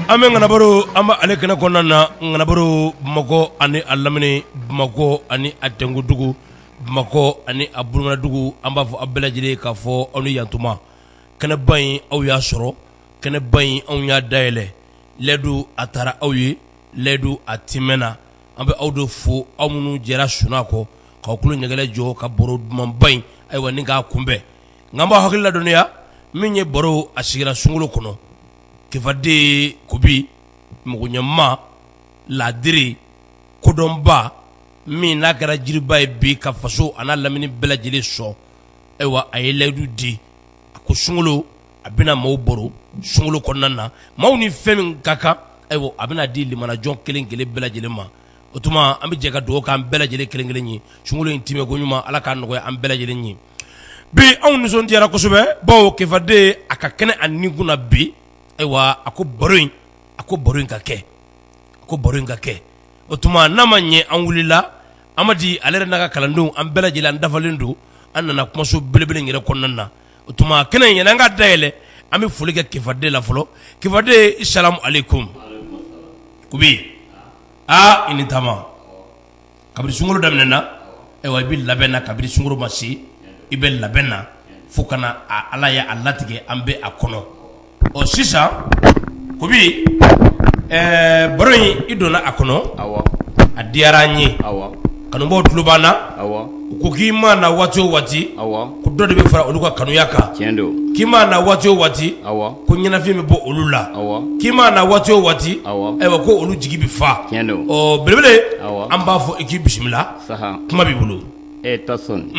An bɛ ŋanabaro an bɛ ale kɛnɛ kɔnɔna na ŋanabaro Bamakɔ ani a lamini Bamakɔ ani a tɛnkundugu Bamakɔ ani a burunɛnɛdugu an b'a fɔ a bɛɛ lajɛlen ye k'a fɔ aw ni yantuma kɛnɛba in aw y'a sɔrɔ kɛnɛba in anw y'a dayɛlɛ layidu a tara aw ye layidu a tiimɛna an bɛ aw de fo aw minnu jɛra sunaa kɔ k'aw tulo ɲɛkelen jɔ ka baro dumanba in ayiwa ni k'a kunbɛn nka an b'aw hakili ladɔnniya min ye baro a sigira sunkalo kɔnɔ kifaden kubi mɔgɔɲuman laadiri kodɔnba min n'a kɛra jiriba ye bi ka faso an'a lamini bɛɛ lajɛlen sɔn ayiwa a ye layidu di a ko sunkalo a bɛna maaw baro sunkalo kɔnɔna na maaw ni fɛn min ka kan ayiwa a bɛna di limanajɔn kelen kelen bɛɛ lajɛlen ma o tuma an bɛ jɛ ka dugawu kɛ an bɛɛ lajɛlen kelenkelen ye sunkalo in tɛmɛko ɲuman ala k'a nɔgɔya an bɛɛ lajɛlen ye bi anw nisɔndiyara kosɛbɛ bawo kifaden a ka kɛnɛ a ni kunna bi ayiwa a ko baro in a ko baro in ka kɛ a ko baro in ka kɛ o tuma n'a ma ɲɛ an wulila amadi ale yɛrɛ n'a ka kalandenw an bɛɛ lajɛlen an dafalen don an nana kumaso belebele in yɛrɛ kɔnɔna na o tuma kɛnɛ in yani an k'a dayɛlɛ an bɛ foli kɛ kifaden la fɔlɔ kifaden asalamu alekum kubi aa i ni taama kabini sunkolo daminɛ na ayiwa i bɛ labɛn na kabini sunkolo ma se i bɛ labɛn na fo ka na ala ye a latigɛ an bɛ a kɔnɔ ɔ sisan kubi baro in i donna a kɔnɔ a diyara an ye kanubaaw tulo b'an na u ko k'i ma na waati o waati ko dɔ de bɛ fara olu ka kanuya kan k'i ma na waati o waati ko ɲɛnafin bɛ bɔ olu la k'i ma na waati o waati ayiwa ko olu jigi bɛ fa ɔ belebele an b'a fɔ i k'i bisimila kuma b'i bolo e tasɔni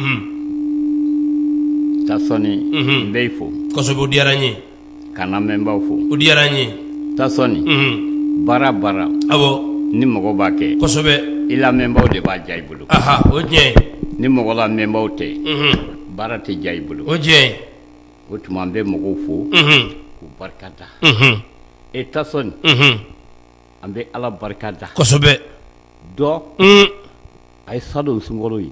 kosɛbɛ o diyara n ye ka lamɛnbaw fo o diyara an ye tasɔni baara baara awɔ ni mɔgɔ b'a kɛ kosɛbɛ i lamɛnbaw de b'a diya i bolo o tiɲɛ ni mɔgɔ lamɛnbaw tɛ baara tɛ diya i bolo o tiɲɛ o tuma an bɛ mɔgɔw fo k'u barika da e tasɔni an bɛ ala barika da kosɛbɛ dɔ a ye san dɔ sunkalo ye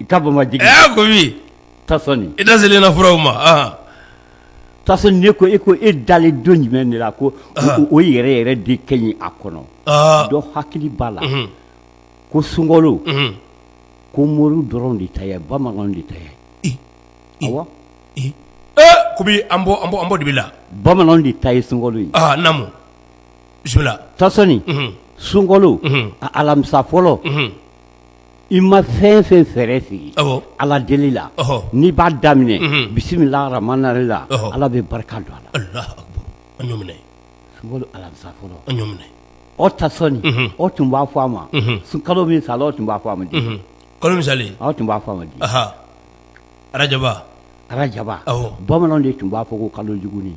i ka bɔ ma jigin ɛ kubi tasɔni i da selen na furaw ma aa tasɔni ne ko e ko e dalen don jumɛn de la ko o- o yɛrɛ yɛrɛ de ka ɲi a kɔnɔ aa dɔ hakili b'a la mhm, ko sunkalo mhm. ko moriw dɔrɔn de ta ye bamananw de ta ye I, i, awɔ i. ɛ kubi an bɔ an bɔ an bɔ dibi la bamananw de ta ye sunkalo ye aa namu bisimila tasɔni mhm, sunkalo Mhm. a alamisa fɔlɔ mhm. i ma fɛn fɛn fɛɛrɛ sigi ala deli la n'i b'a daminɛ bisimilahi ramani rahimi la ala bɛ barika don a la alahu akibaru alamisa fɔlɔ o tasɔn o tun b'a fɔ a ma sun kalo min sala o tun b'a fɔ a ma di kalo misali awɔ o tun b'a fɔ a ma di arajaba arajaba bamanan de tun b'a fɔ ko kalo jugunin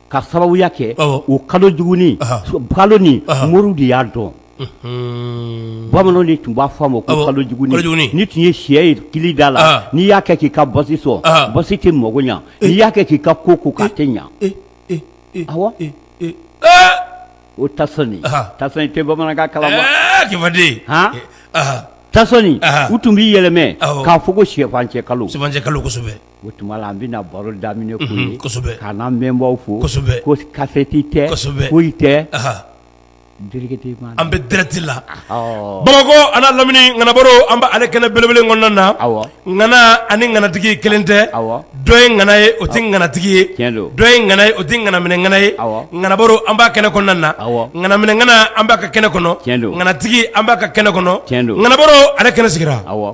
ka sababu y'a kɛ o kalo jugunin kalo ni moriw de y'a dɔn bamananw de tun b'a fɔ a ma ko kalo jugunin ni tun ye syɛ ye kili da la n'i y'a kɛ k'i ka basi sɔn basi tɛ mako ɲɛ n'i y'a kɛ k'i ka ko ko k'a tɛ ɲɛ awɔ tasɔn a tɛ bamanankan kala tasɔn u tun b'i yɛlɛma k'a fɔ ko syɛfan cɛ kalo kosɛbɛ o tuma an bɛna baro daminɛ ka lamɛnbaw fo kasɛti tɛ foyi tɛ an bɛ dirɛkiti la bamakɔ an'a lamini ŋanabaro an bɛ ale kɛnɛ belebele kɔnɔna na ŋana ani ŋanatigi kelen tɛ dɔ ye ŋana ye o tɛ ŋanatigi ye dɔ ye ŋana ye o tɛ ŋanaminɛŋana ye ŋanabaro an b'a kɛnɛ kɔnɔna na ŋanaminɛŋana an b'a ka kɛnɛ kɔnɔ ŋanatigi an b'a ka kɛnɛ kɔnɔ ŋanabaro ale kɛnɛ sigira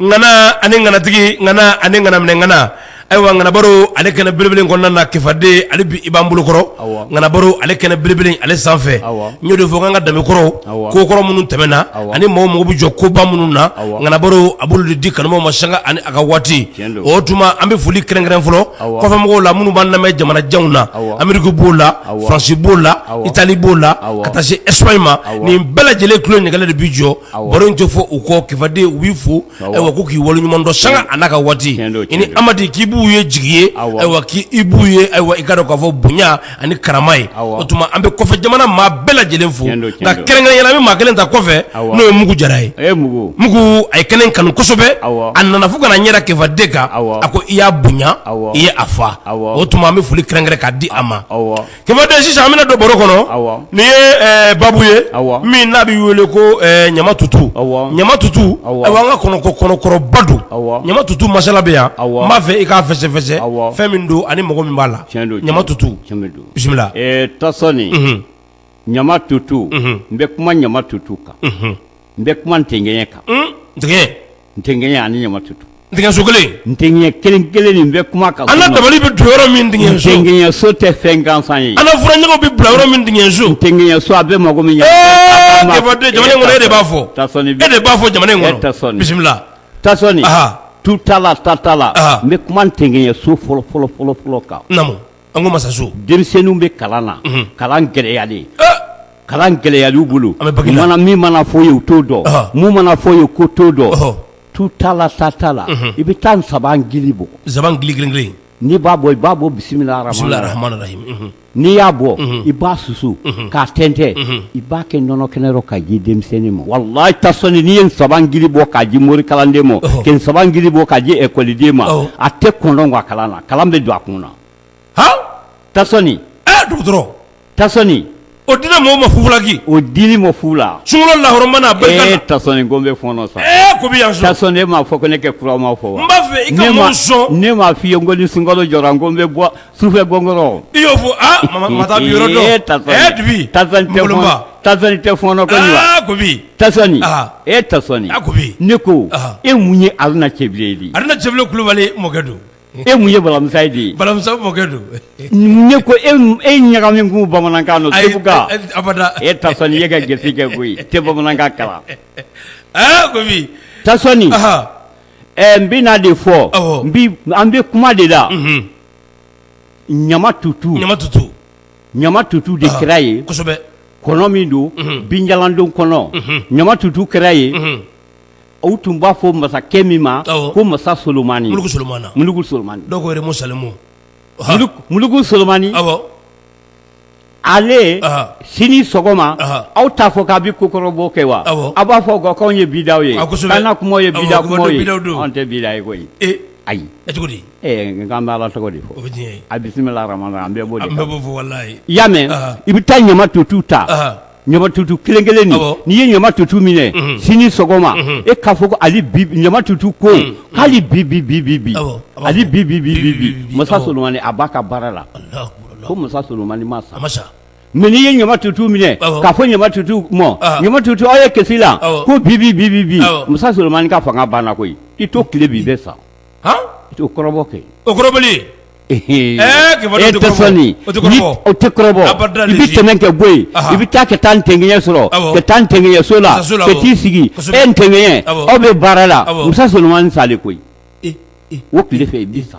ŋana ani ŋanatigi ŋana ani ŋanaminɛŋana ayiwa ŋanabaro ale kɛnɛ belebele in kɔnɔna na kifaden hali bi i b'an bolokɔrɔ awɔ ŋanabaro ale kɛnɛ belebele in ale sanfɛ awɔ n y'o de fɔ n k'an ka danbe kɔrɔw awɔ ko kɔrɔ minnu tɛmɛna awɔ ani maaw mago bɛ jɔ koba minnu na awɔ ŋanabaro a b'olu de di kanubaaw ma sanga ani a ka waati tiɲɛ don o tuma an bɛ foli kɛrɛnkɛrɛn fɔlɔ awɔ kɔfɛmɔgɔw la minnu b'an lamɛn jamana janw na awɔ Amérique b'o la awɔ France b'o la awɔ Italie b'o la awɔ ka taa se Espagne ma awɔ nin bɛɛ lajɛlen tulo ɲɛgɛnɛ de b'i jɔ baro tɛ fɔ u kɔ kifaden u b'i fo ayiwa ko k'i waleɲumandɔn sanga an'a ka waati i ni amadi k'i b'u ye jigi ye ayiwa k'i b'u ye ayiwa i ka dɔ k'a fɔ bonya ani karama ye o tuma an bɛ kɔfɛ jamana maa bɛɛ lajɛlen fo nka kɛrɛnkɛrɛnya la n bɛ maa kelen ta kɔfɛ n'o ye mugu jara ye mugu a ye kɛnɛ in kanu kosɛbɛ a nana fo ka na n yɛrɛ kifaden kan a ko i y'a bonya i ye a fa o tuma an bɛ foli kɛrɛnkɛrɛn k'a di a ma Kifaden sisan an bɛna don baro kɔnɔ nin ye baabu ye min n'a bɛ wele ko ɲama tutu ɲama tutu ayiwa an ka kɔnɔ kɔrɔba don ɲama tutu masala bɛ yan n b'a fɛ i k'a fɛsɛfɛsɛ fɛn min don ani mago min b'a la ɲama tutu bisimila tasɔn ɲama tutu n bɛ kuma ɲama tutu kan n bɛ kuma ntɛnkɛɲɛ kan, un, ntɛnkɛɲɛ, ntɛnkɛɲɛ ani ɲamatutu, ntɛnkɛɲɛso kelen, ntɛnkɛɲɛ kelen kelen n bɛ kuma kan, an ka dabali bɛ don yɔrɔ min ntɛnkɛɲɛso, ntɛnkɛɲɛso tɛ fɛn gansan ye, an ka furancɛw bɛ bila yɔrɔ min ntɛnkɛɲɛso, ntɛnkɛɲɛso a bɛ mago min ɲɛ, Kifaden jamana in kɔnɔ e de b'a fɔ, Tasɔn e de b'a fɔ jamana in kɔnɔ, Tasɔn bisimila, Tasɔn, aha, tu t'a la ta t'a la, aha, n bɛ kuma ntɛnkɛɲɛso fɔlɔ fɔlɔ fɔlɔ fɔlɔ kan, naamu an ka masaso denmisɛnninw bɛ kalan na kalan gɛlɛyalen kalan gɛlɛyalen bolo an bɛ min mana fɔ ye u t'o dɔn mun mana fɔ ye k'u t'o dɔn tu t'a la sa t'a la i bɛ taa nsaban gili bɔ nsaban gili kelen n'i b'a bɔ i b'a bɔ bisimila rahman rahim n'i y'a bɔ i b'a susu k'a tɛntɛn i b'a kɛ nɔnɔ kɛnɛ rɔ k'a di denmisɛnnin ma walayi tasɔnni n'i ye nsaban gili bɔ k'a di mori kalanden ma nsaban gili bɔ k'a di ekɔliden ma a tɛ kɔn kalan na kalan bɛ don a kun na han tasɔnni ɛɛ dɔgɔtɔrɔ tasɔnni o dira mɔɔw ma fufulaki o dili mɔ fu la sunkalo la hɔrɔma n'a barika la ee tasɔnni ko n bɛ fɔɔnɔ sa ee ko bɛ yan sɔn tasɔnni e m'a fɔ ko ne kɛ kura ma fɔ wa n b'a fɛ i ka mɔɔw sɔn ne m'a f'i ye ko ni sunkalo jɔra ko n bɛ bɔ sufɛ gɔngɔrɔn i y'o fɔ aa mama mama taa bi yɔrɔ dɔn ee tasɔnni ee dibi tasɔnni tɛ fɔɔnɔ nkolonba tasɔnni tɛ fɔɔnɔ ko nin wa aa ko bi tasɔnni Aa. e tasɔnni A ko bi. ne ko Aa. e mun ye aruna cɛbilen ye de aruna cɛbilen kulubali mɔkɛ don e mun ye balamusa ye de ye balamusa mɔkɛ don ne ko e e ɲaga min k'u bamanankan don seguka abada e tasɔnni ye ka gese kɛ koyi tɛ bamanankan kalan aa ko bi tasɔni ɛ n bɛna de fɔ bi an bɛ kuma de la ɲama tutu ɲama tutu ɲama tutu de kira ye kosɛbɛ kɔnɔ min don binjalandon kɔnɔ ɲama tutu kira ye o tun b'a fɔ masakɛ min ma ko masa solomani mulugu solomani ale sini sɔgɔma aw t'a fɔ k'a bɛ ko kɔrɔbɔ kɛ wa aw b'a fɔ k'anw ye bida ye kuma ye bida ye anw tɛ bida ye koyi ayi cogo di nk'an bɛ ala tɔgɔ de fɔ a bisimila an bɛɛ b'o de kan i y'a mɛn i bɛ taa ɲama tutu ta ɲama tutu kelen kelen n'i ye ɲama tutu minɛ sini sɔgɔma e k'a fɔ ko ali ɲama tutu ko hali bi bi bi bi bi ali bi bi bi bi bi masa solomani a b'a ka baara la ko masa solomani ma sa mɛ n'i ye ɲama tutu minɛ k'a fɔ ɲama tutu ma ɲama tutu aw ye kɛsi la ko bi bi bi bi bi masa solomani ka fanga banna koyi i to tile bi bɛ sa i t'o kɔrɔbɔ kɛ o i bɛ tɛmɛ kɛ bɔ yen i bɛ taa ka taa ntɛgɛɲɛ sɔrɔ ka taa ntɛgɛɲɛ so la ka t'i sigi e ntɛgɛɲɛ aw bɛ baara la masa solomani salen koyi o tile fɛ i bɛ sa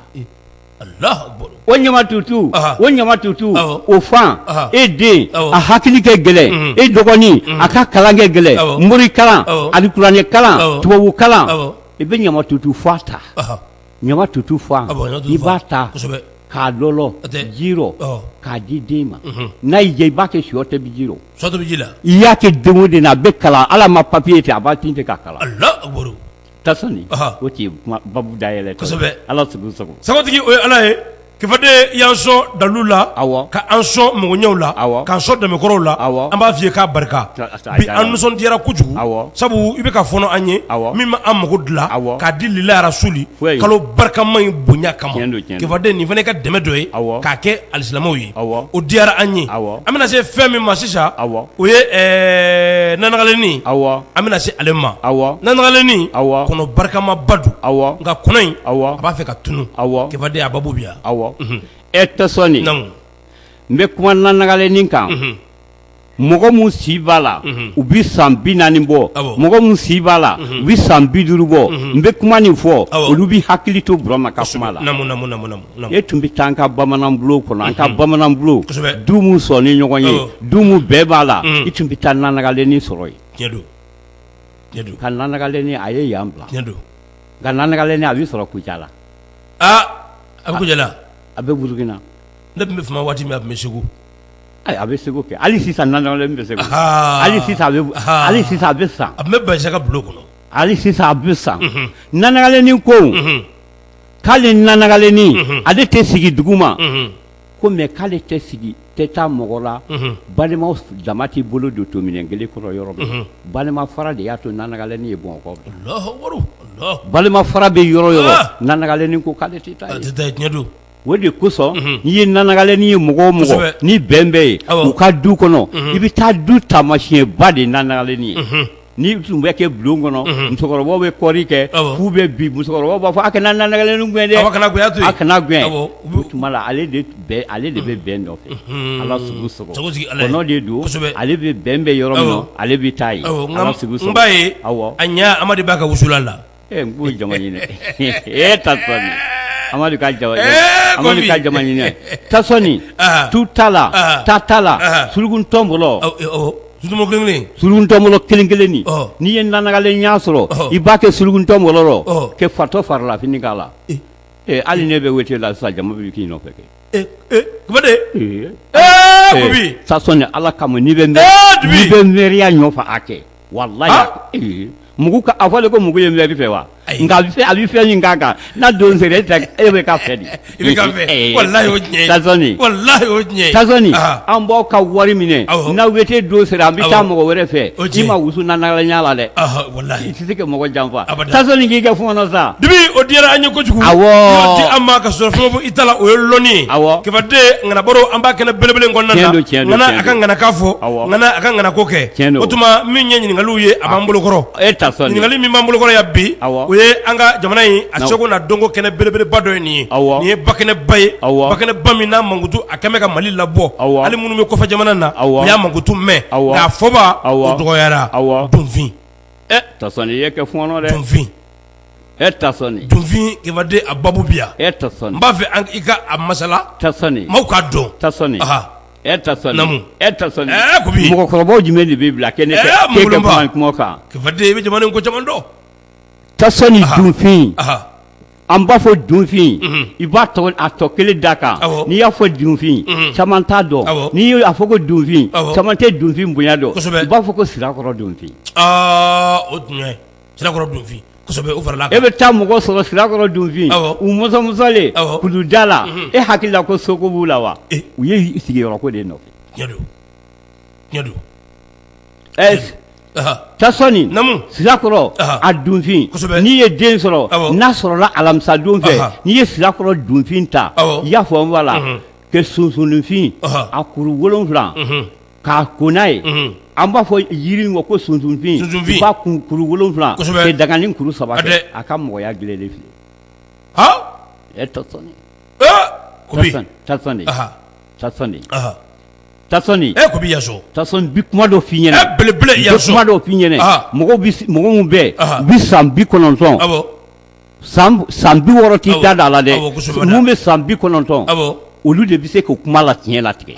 o ɲama tutu o ɲama tutu o fan e den a hakili kɛ gɛlɛn e dɔgɔnin a ka kalan kɛ gɛlɛn mori kalan ani kuranɛ kalan tubabu kalan i bɛ ɲama tutu fan ta ɲama tutu fan Ah bon, ɲama tutu fan. i b'a ta Kosɛbɛ. k'a lɔlɔ O tɛ. ji rɔ Ɔ. k'a di den ma Mhm. n'a y'i diya i b'a kɛ sɔ tobi ji rɔ Sɔ tobi ji la. i y'a kɛ den o den na a bɛ kalan ala ma papiye ten a b'a tin ten k'a kalan Alahu akibaru. tasɔnni Ɔhɔ. o tun ye kuma babu dayɛlɛ tɔ ye. Kosɛbɛ. ala sago sago Sagotigi o ye Ala ye. Kifade y'an sɔn dalu la ka an sɔn mɔgɔw la k'an sɔn dakɔrɔw la an b'a f'i ye k'a barika bi an nisɔndiyara kojugu sabu i bɛ ka fɔɔnɔ an ye min bɛ an mako dilan k'a di lila rasuli kalo barikama in bonya kama Kifade nin fana ka dɛmɛ dɔ ye k'a kɛ alisilamɛw ye o diyara an ye an bɛna se fɛn min ma sisan o ye nanagalenin an bɛna se ale ma nanagalenin kɔnɔ barikama ba don nka kɔnɔ in b'a fɛ tun awɔ Kifade a babugu yan aw ee Tasɔni n bɛ kuma nanagalenin kan mɔgɔ min si b'a la u bɛ san bi naani bɔ mɔgɔ min si b'a la u bɛ san bi duuru bɔ n bɛ kuma nin fɔ olu bɛ hakili to burama ka kuma la e tun bɛ taa an ka bamanan bulon kɔnɔ an ka bamanan bulon du min sɔnnen ɲɔgɔn ye du min bɛn b'a la i tun bɛ taa nanagalenin sɔrɔ yen ka nanagalenin a ye yan bila nka nanagalenin a bɛ sɔrɔ Kucala a bɛ Kucala a bɛ Burukina ne tun bɛ Fama waati min a tun bɛ segu a bɛ segu kɛ hali sisan nanagalenin bɛ segu hali hali sisan a bɛ sa a bɛ basi ka bulon kɔnɔ hali sisan a bɛ sa nanagalenin ko k'ale nanagalenin ale tɛ sigi dugu ma ko mɛ k'ale tɛ sigi tɛ taa mɔgɔ la balima dama t'i bolo don to minɛn kelen kɔnɔ yɔrɔ min balima fara de y'a to nanagalenin ye Bamakɔ balima fara bɛ yɔrɔ o yɔrɔ nanagalenin ko k'ale tɛ taa o de kosɔn n'i ye nanagalenin ye mɔgɔ o mɔgɔ ni bɛn bɛ yen u ka du kɔnɔ i bɛ taa du taamasiyɛnba de ye nanagalenin ye ni tun bɛ kɛ bulon kɔnɔ musokɔrɔbaw bɛ kɔɔri kɛ f'u bɛ bi musokɔrɔbaw b'a fɔ a kana nanagalenin gɛn dɛ kana a kana gɛn o tuma la ale de bɛ bɛn nɔfɛ ala sugu sɔgɔ kɔnɔ de don ale bɛ bɛn bɛ yɔrɔ min na ale bɛ taa yen ba ye aw a ɲɛ amadu b'a ka wusulan la Ee n k'o ye jama ɲini Tasɔni amadu ka ja amadu ka jama ɲini Tasɔni tu ta la ta ta la surugukuntɔnbolo suruguntɔnbolo kelen kelen n'i ye nanagalen ɲa sɔrɔ i b'a kɛ surugukuntɔnbolo rɔ kɛ fatɔ farilafini k'a la ee hali n'i bɛ wete la sisan jama bɛ k'i nɔfɛ kɛ Tasɔni ala kama n'i bɛ bɛ mɛriya nɔfɛ a kɛ walayi mugu a fɔ de ko mugu ye mɛri fɛ wa nka a fɛ a bɛ fɛn min kan kan n'a don sera e tɛ e bɛ ka fɛ de an b'aw ka wari minɛ n'a wete don sera an bɛ taa mɔgɔ wɛrɛ fɛ i ma wusu nanagalen ɲa la dɛ i tɛ se ka mɔgɔ janfa k'i kɛ fɔɔnɔ sa dibi o diyara an ye kojugu di an ma ka sɔrɔ fɛn fo i ta la o ye lɔnni ye awɔ Kifade ŋana baro an bɛ kɛnɛ belebele kɔnɔna don a ka ŋana ka fɔ a ka ŋana ko kɛ o tuma min ye ɲininkaliw ye a b'an bolokɔrɔ ɲininkali min b'an bolokɔrɔ yan bi o ye an ka jamana in a seko n'a dɔnko kɛnɛ belebeleba dɔ ye nin ye nin ye ba kɛnɛba ye ba kɛnɛba min n'a mankutu a kɛmɛ ka mali labɔ hali minnu bɛ kɔfɛ jamana na u y'a mankutu mɛn nka a fɔbaw dɔgɔyara dunfin dunfin baden a ba bi yan n b'a fɛ i ka a masala maaw k'a dɔn mɔgɔkɔrɔba jumɛn de b'i bila kɛnɛ kan i bɛ jamana ko caman dɔn tasɔni dunfin an b'a fɔ dunfin i b'a tɔ kelen da kan n'i y'a fɔ dunfin caman t'a dɔn n'i y'a fɔ ko dunfin caman tɛ dunfin bonya dɔn i b'a fɔ ko sirakɔrɔ dunfin o e bɛ taa mɔgɔ sɔrɔ sirakɔrɔ dunfin u mɔsɔmɔsɔlen kulu da la e hakili la ko soko b'u la wa u ye sigiyɔrɔ ko de nɔfɛ tasɔni sirakɔrɔ a dunfin n'i ye den sɔrɔ n'a sɔrɔla alamisa don fɛ n'i ye sirakɔrɔ dunfin ta i y'a fɔ la kɛ sunsunfin a kuru wolonwula k'a ko n'a ye an b'a fɔ yiri in ma ko sunsunfin i b'a kuru wolonwula kɛ daga ni kuru saba a ka mɔgɔya gilalen filɛ tasɔni n bi kuma dɔ f'i ɲɛna belebele kuma dɔ f'i ɲɛna mɔgɔ minnu bɛ san bi kɔnɔntɔn san bi wɔɔrɔ t'i da d'a la dɛ minnu bɛ san bi kɔnɔntɔn olu de bɛ se ka kuma la tiɲɛ latigɛ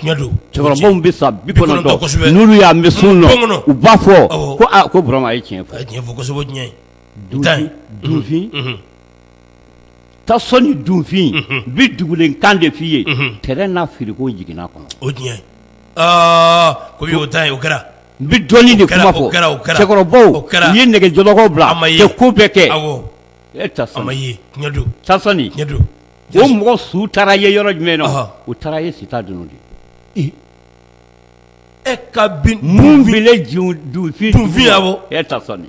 cɛkɔrɔba minnu bɛ san bi kɔnɔntɔn n'olu y'a mɛn sun na u b'a fɔ ko burama ye tiɲɛ fɔ dunfin tasɔni dunfin bi dugulen kan de f'i ye tere n'a firi ko jigina kɔnɔ o tiɲɛ ko o ta o kɛra n bɛ dɔɔnin de kuma fɔ, o kɛra, o kɛra, cɛkɔrɔbaw, o kɛra, u ye nɛgɛjɔlɔkɔw bila, a ma ye, ka ko bɛɛ kɛ, awɔ, e tasɔni, a ma ye, tiɲɛ don, tasɔni, tiɲɛ don, o mɔgɔ su taara ye yɔrɔ jumɛn na, ɔhɔ, u taara ye sita dunun de, ee, e ka bin, mun binna dunfin, dunfin, awɔ, e tasɔni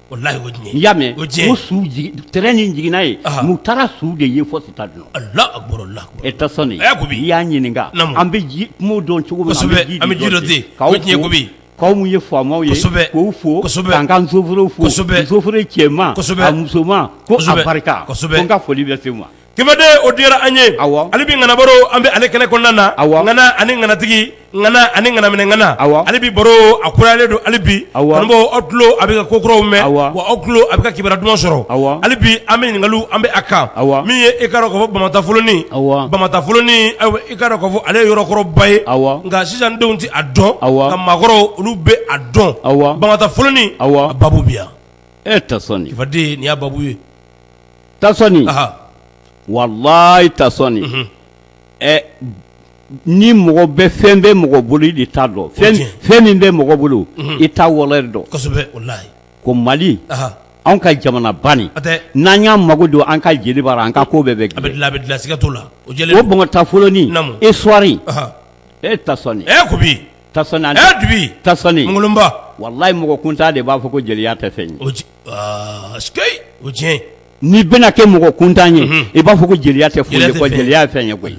o la o diɲɛ n'i y'a mɛn o su tere ni jigina ye n'u taara su de ye fɔ sita dunun e tasɔni i y'a ɲininka an bɛ kungo dɔn cogo min an bɛ ji dɔn ten o diɲɛ ko bi k'aw minnu ye faamaw ye k'u fo k'an ka sofɛriw fo sofɛri cɛman a musoman ko a barika ko n ka foli bɛ se i ma Kɛmɛden o diyara an ye ale bi ŋanabaro an bɛ ale kɛnɛ kɔnɔna na ŋana ani ŋanatigi ŋana ani ŋanaminɛ ŋana ale bi baro a kurayalen don ale bi kanubaw aw tulo a bɛ ka ko kuraw mɛn wa aw tulo a bɛ ka kibara duman sɔrɔ awɔ ale bi an bɛ ɲininkaliw an bɛ a kan awɔ min ye i k'a dɔn k'a fɔ bamatafolonin awɔ bamatafolonin i k'a dɔn k'a fɔ ale yɔrɔkɔrɔba ye awɔ nka sisandenw tɛ a dɔn nka maakɔrɔw olu bɛ a dɔn awɔ bamatafolonin a baabu bi yan e tasɔni kifaden ni' baabu ye tasɔni walayi tasɔni ni mɔgɔ bɛ fɛn bɛ mɔgɔ bolo i de t'a dɔn fɛn min bɛ mɔgɔ bolo i t'a valeur dɔn ko mali an ka jamana bani n'an y'an mago don an ka jeli bara an ka ko bɛɛ bɛ bamatafolonin histoire e tasɔni kubi tasɔni dubi tasɔni mangolonba walayi mɔgɔ kuntan de b'a fɔ ko jeliya tɛ fɛn n'i bɛna kɛ mɔgɔ kuntan ye i b'a fɔ ko jeliya tɛ foyi ye ko jeliya ye fɛn ye koyi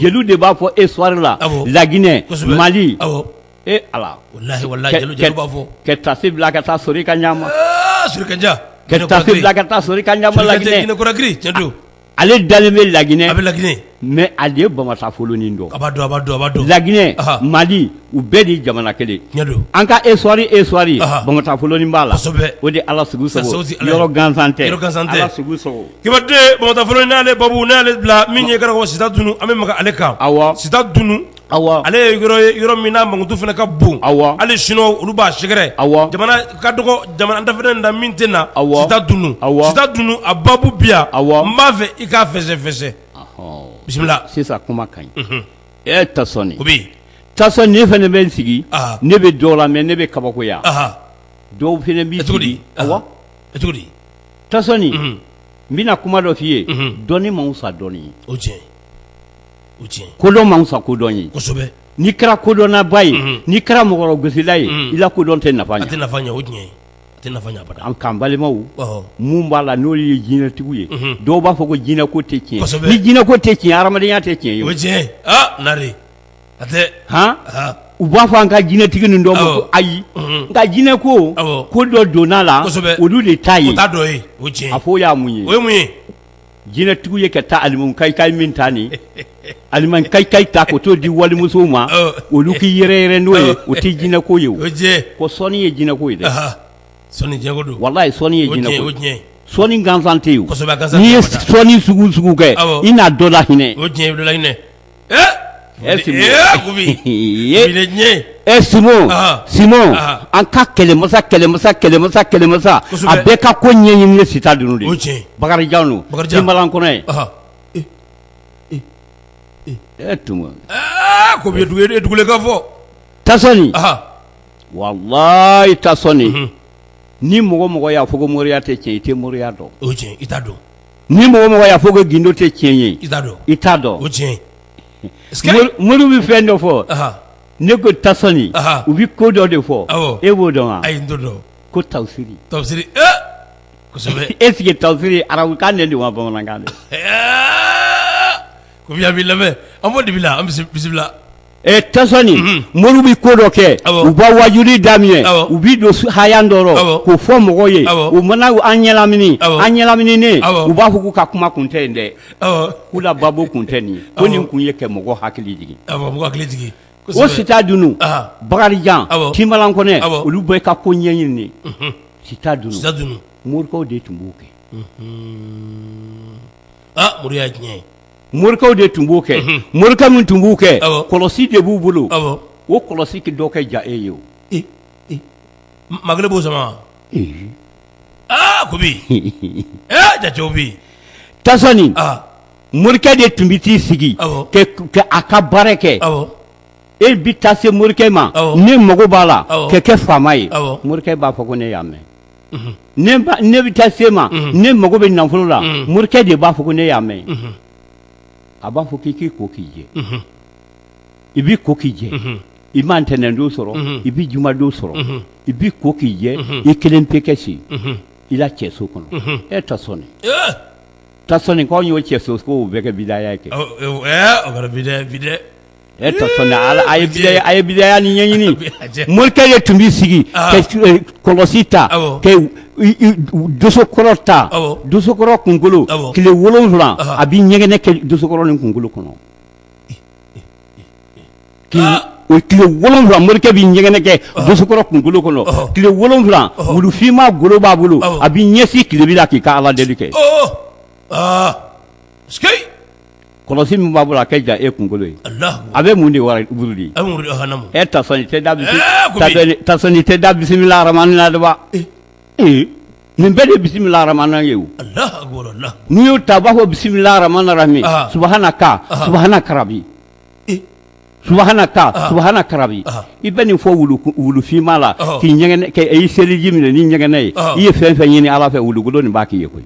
jeliw de b'a fɔ histoire la laginɛ Mali e Ala ka tafe bila ka taa sɔrɔ i ka ɲa ma ka tafe bila ka taa sɔrɔ i ka ɲa ma laginɛ ale dalen bɛ laginɛ a bɛ laginɛ mais a de ye bamatafolonin dɔn a b'a dɔn a b'a dɔn a b'a dɔn laginɛ aha Mali u bɛɛ de ye jamana kelen tiɲɛ don an ka histoire ye histoire ye aha bamatafolonin b'a la kosɛbɛ o de ye Ala sugu sago sago ti Ala ye yɔrɔ gansan tɛ yɔrɔ gansan tɛ Ala sugu sago Kibaden bamatafolonin n'ale babu ne y'ale bila min ye i k'a dɔn ko sitadunu an bɛ maga ale kan awɔ sitadunu ale ye yɔrɔ min n'a mankutu fana ka bon hali sinuwaw olu b'a sɛgɛrɛ jamana ka dɔgɔ jamana dafa da min tɛ na awɔ sitadunu a babu bi yan a n b'a fɛ i k'a fɛsɛfɛsɛ bisimila sisan kuma ka ɲi e tasɔni tasɔni ne fana bɛ n sigi ne bɛ dɔw lamɛn ne bɛ kabakoya dɔw fana bɛ cogo di cogo di tasɔni n bɛna kuma dɔ f'i ye dɔnni man fisa dɔnni ye o tiɲɛ kodɔn man fisa kodɔn ye n'i kɛra kodɔnnaba ye n'i kɛra mɔgɔ gosila ye i la kodɔn tɛ nafa ɲɛ an ka balimaw minnu b'a la n'olu ye jinɛtigiw ye dɔw b'a fɔ ko jinɛ ko tɛ tiɲɛ ni jinɛ ko tɛ tiɲɛ hadamadenya tɛ tiɲɛ o tiɲɛ nare hɔn u b'a fɔ an ka jinɛtigi nin dɔw ma ko ayi nka jinɛ ko ko dɔ donn'a la olu de taa yen o a fɔ o ye mun ye o ye mun ye jinɛtigiw ye ka taa alimukayikayi min ta nin alimukayikayi ta k'o t'o di walimusow ma olu k'i yɛrɛyɛrɛ n'o ye o tɛ jinɛko ye ko sɔnni ye jinɛko ye dɛ walayi sɔnni ye jinɛko ye sɔnni gansan tɛ yen n'i ye sɔnni sugu sugu kɛ i n'a dɔ la hinɛ an ka kɛlɛmasa kɛlɛmasa kɛlɛmasa kɛlɛmasa a bɛɛ ka ko ɲɛɲini ye sita dunun de ye bakarijan jan don bakarijan tinbalankɔnɛ ye e tun ko dugukaw fɔ tasɔni walayi tasɔni ni mɔgɔ mɔgɔ y'a fɔ ko moriya tɛ tiɲɛ i tɛ moriya dɔn o i t'a dɔn ni mɔgɔ mɔgɔ y'a fɔ ko gindo tɛ tiɲɛ ye i t'a dɔn i t'a dɔn o tiɲɛ Mori- moriw bɛ fɛn dɔ fɔ ne ko tasɔni Aha. u bɛ ko dɔ de fɔ Awɔ. e b'o dɔn wa ayi n t'o dɔn ko tawusiri tafsiri ee kosɛbɛ est-ce que tawusiri arabukan de don wa bamanankan de Ɛɛ, ko bi an b'i lamɛn an b'o dibi la an bisi- bisimila Ɛ tasɔni Unhun. moriw bɛ ko dɔ kɛ Awɔ. u b'a wajuli daminɛ Awɔ. u b'i don su- haya dɔ rɔ Awɔ. k'o fɔ mɔgɔw ye Awɔ. u mana u- an ɲɛlamini Awɔ. an ɲɛlamininen Awɔ. u b'a fɔ k'u ka kuma kun tɛ yen dɛ Awɔ. k'u la babo kun tɛ nin ye ko Awɔ. nin kun ye kɛ mɔgɔ hakili jigin Awɔ, mɔgɔ hakili jigin. o Kosɛbɛ. sita dunun Aha. bakarijan Awɔ. tinbalankɔnɛ Awɔ. olu bɛɛ ka ko ɲɛɲini de Unhun. sita dunun Sita dunun. morikɛw de tun b'o kɛ Ah, mori y'a tiɲɛ ye. morikɛw de tun b'o kɛ morikɛ min tun b'u kɛ kɔlɔsi de b'u bolo o kɔlɔsi dɔw kɛ ja e ye o ma kelen b'o sama aa ko bi jatew bɛ tasɔni morikɛ de tun bɛ t'i sigi k'a ka baara kɛ e bɛ taa se morikɛ ma ne mago b'a la kɛ kɛ faama ye morikɛ b'a fɔ ko ne y'a mɛn ne bɛ taa se a ma ne mago bɛ nafolo la morikɛ de b'a fɔ ko ne y'a mɛn a b'a fɔ k'i k'i ko k'i jɛ i b'i ko k'i jɛ i ma ntɛnɛn don sɔrɔ i bɛ juma don sɔrɔ i b'i ko k'i jɛ i kelen pe kɛ si i la cɛso kɔnɔ e tasɔni tasɔni k'anw y'o cɛso ko bɛɛ kɛ bidaya kɛ a ye bidaya ni ɲɛɲini morikɛ de tun b'i sigi ka kɔlɔsi ta ka dosokɔrɔ ta dosokɔrɔ kunkolo tile wolonwula a b'i ɲɛgɛnɛ kɛ dosokɔrɔ nin kunkolo kɔnɔ o tile wolonwula morikɛ b'i ɲɛgɛnɛ kɛ dosokɔrɔ kunkolo kɔnɔ tile wolonwula wulufinma golo b'a bolo a b'i ɲɛsin tilebin na k'i ka ala deli kɛ kɔlɔsi min b'a bolo a kɛ ja e kunkolo ye a bɛ mun de wurudi tasɔni tɛ da bisimilaraman na dɛ nin bɛɛ de bisimilaraman ye n'i y'o ta b'a fɔ bisimilaramani rahimi subuhanaka subuhanaka rabi subuhanaka subuhanaka rabi i bɛ nin fɔ wulufinma la k'i ɲ k'i seliji minɛ ni ɲɛgɛnɛ ye i ye fɛn fɛn ɲini ala fɛ wulukolo nin b'a k'i ye koyi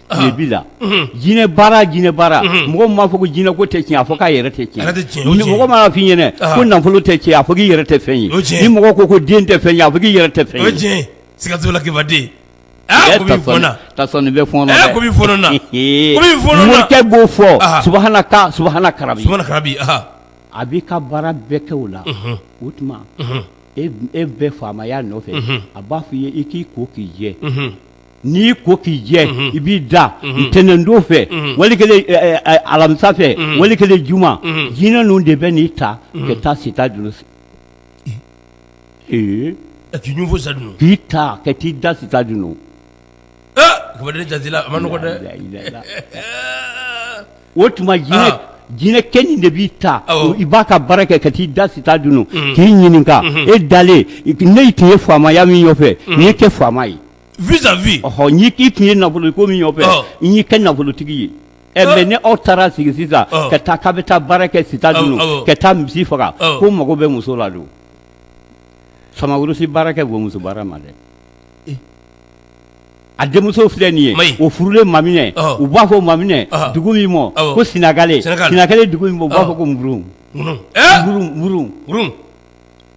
bi la jinɛ baara jinɛ baara mɔgɔ m'a fɔ ko jinɛ ko tɛ tiɲɛ a fɔ k'a yɛrɛ tɛ tiɲɛ mɔgɔ m'a f'i ɲɛna ko nafolo tɛ tiɲɛ a fɔ k'i yɛrɛ tɛ fɛn ye ni mɔgɔ ko ko den tɛ fɛn ye a fɔ k'i yɛrɛ tɛ fɛn ye siga t'o la kibaden bɛ b'o fɔ subhana a b'i ka baara bɛɛ kɛ o la o tuma e bɛɛ faamaya nɔfɛ a b'a fɔ i ye i k'i ko k'i jɛ n'i ko k'i jɛ i b'i da ntɛnɛndon fɛ wali kelen alamisa fɛ wali kelen juma jinɛ ninnu de bɛ n'i ta ka taa sita dunu fɛ k'i ta ka t'i da sita dunu o tuma jinɛkɛ nin de b'i ta i b'a ka baara kɛ ka t'i da sita dunu k'i ɲininka e dalen ne tun ye faamaya min nɔfɛ n y'i kɛ faama ye vis à vis ɔhɔ n'i k'i tun ye nafolo ko min nɔfɛ Ɔ. n y'i kɛ nafolotigi ye ɛ Ɔ. mais ni aw taara sigi sisan Ɔ. ka taa k'a bɛ taa baara kɛ sita Awɔ, dunu awɔ. ka taa misi faga Ɔ. ko mago bɛ muso la don samagurusi baara kɛ muso baara ma dɛ Eh. a denmuso filɛ nin Mayi. ye o furulen maminɛ Ɔ. u b'a fɔ maminɛ Ɔ. dugu min mɔ Awɔ. ko sinagale Sinagale. sinagale dugu min mɔ u b'a Ɔ. fɔ ko murun ŋunu ɛɛ murun murun ŋunu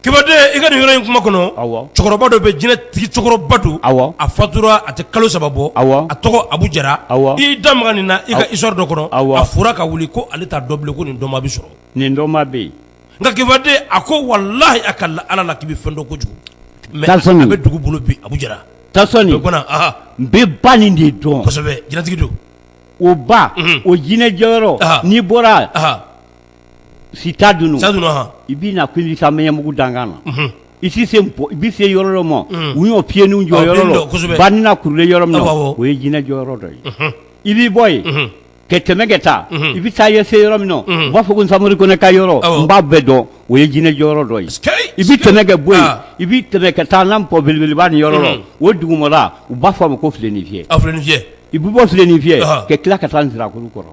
Kibaden i ka nin yɔrɔ in kuma kɔnɔ cɛkɔrɔba dɔ bɛ jinɛtigi cɛkɔrɔba don a fatura a tɛ kalo saba bɔ a tɔgɔ Abu Jara i da maga nin na i ka histoire dɔ kɔnɔ a fɔra ka wuli ko ale t'a dɔn bilen ko nin dɔnma bɛ sɔrɔ nin dɔnma bɛ yen nka kibaden a ko walahi a ka ala la k'i bɛ fɛn dɔ kojugu mais a bɛ dugu bolo bi Abu Jara n bɛ ba nin de dɔn kosɛbɛ jinɛtigi don o ba o jinɛ jɔyɔrɔ n'i bɔra sita dunu i bɛ na ko i ka mɛnyabugu dankan na i se i bɛ se yɔrɔ dɔ ma u y'o piyeninw jɔ yɔrɔ ba ni kurulen yɔrɔ min na o ye jinɛ jɔ yɔrɔ dɔ ye i b'i bɔ yen ka tɛmɛ ka taa i bɛ taa i se yɔrɔ min u b'a fɔ ko Samori Kɔnɛ ka yɔrɔ n b'a bɛɛ dɔn o ye jinɛ jɔ yɔrɔ dɔ ye i bɛ tɛmɛ ka bɔ yen i bɛ tɛmɛ ka taa n'an pɔn belebeleba nin yɔrɔ la o dugumala u b'a fɔ a ma ko filenifiyɛ i bɛ bɔ filenifiyɛ ka tila ka taa sirakuru kɔrɔ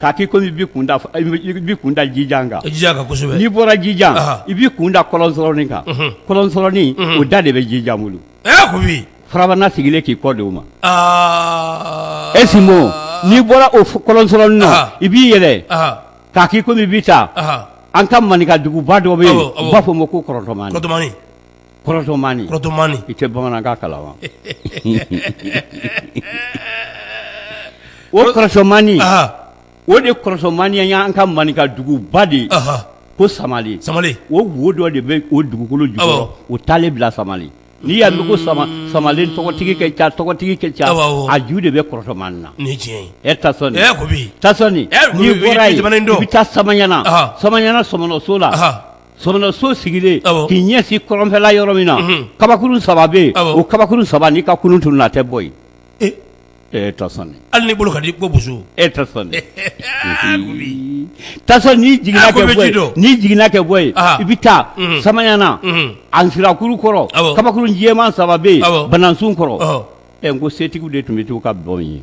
k'a k'i komi i b'i kun da f- i b'i- i b'i kun da jijan kan jijan kan kosɛbɛ n'i bɔra jijan Aha. i b'i kun da kɔlɔnsɔrɔnin kan Mhm. kɔlɔnsɔrɔnin Mhm. o da de bɛ jijan bolo ɛ ko bi farabana sigilen k'i kɔ de o ma aa esimo n'i bɔra o f- kɔlɔnsɔrɔnin na Aha. i b'i yɛlɛ aha k'a k'i komi i bɛ taa aha an ka maninka duguba dɔ bɛ yen Awɔ, awɔ. u b'a fɔ o ma ko kɔrɔtɔmani kɔtɔmani kɔrɔtɔmani i tɛ bamanankan kalan wa o kɔrɔtɔmani o de kɔrɔtɔmani y'an ka maninka duguba de ye ko samale samale o wo dɔ de bɛ o dugukolo jukɔrɔ o taalen bila samale n'i y'a mɛn ko samale samale tɔgɔtigi ka ca tɔgɔtigi ka ca a ju de bɛ kɔrɔtɔmani na ni tiɲɛ e tasɔni n'i bɔra yen i bɛ taa samaɲana samaɲana sɔmɔnɔso la sɔmɔnɔso sigilen k'i ɲɛsin kɔrɔnfɛla yɔrɔ min na kabakuru saba bɛ yen o kabakuru saba n'i ka kurun tununna a tɛ bɔ yen e tasɔni hali n'i bolo ka di ko boso e tasɔni n'i jiginna kɛ bɔ yen n'i jiginna kɛ bɔ yen i bɛ taa samaɲana a nsirakuru kɔrɔ kabakuru jɛman saba bɛ yen banansun kɔrɔ ɛ n ko setigiw de tun bɛ to ka bɔ yen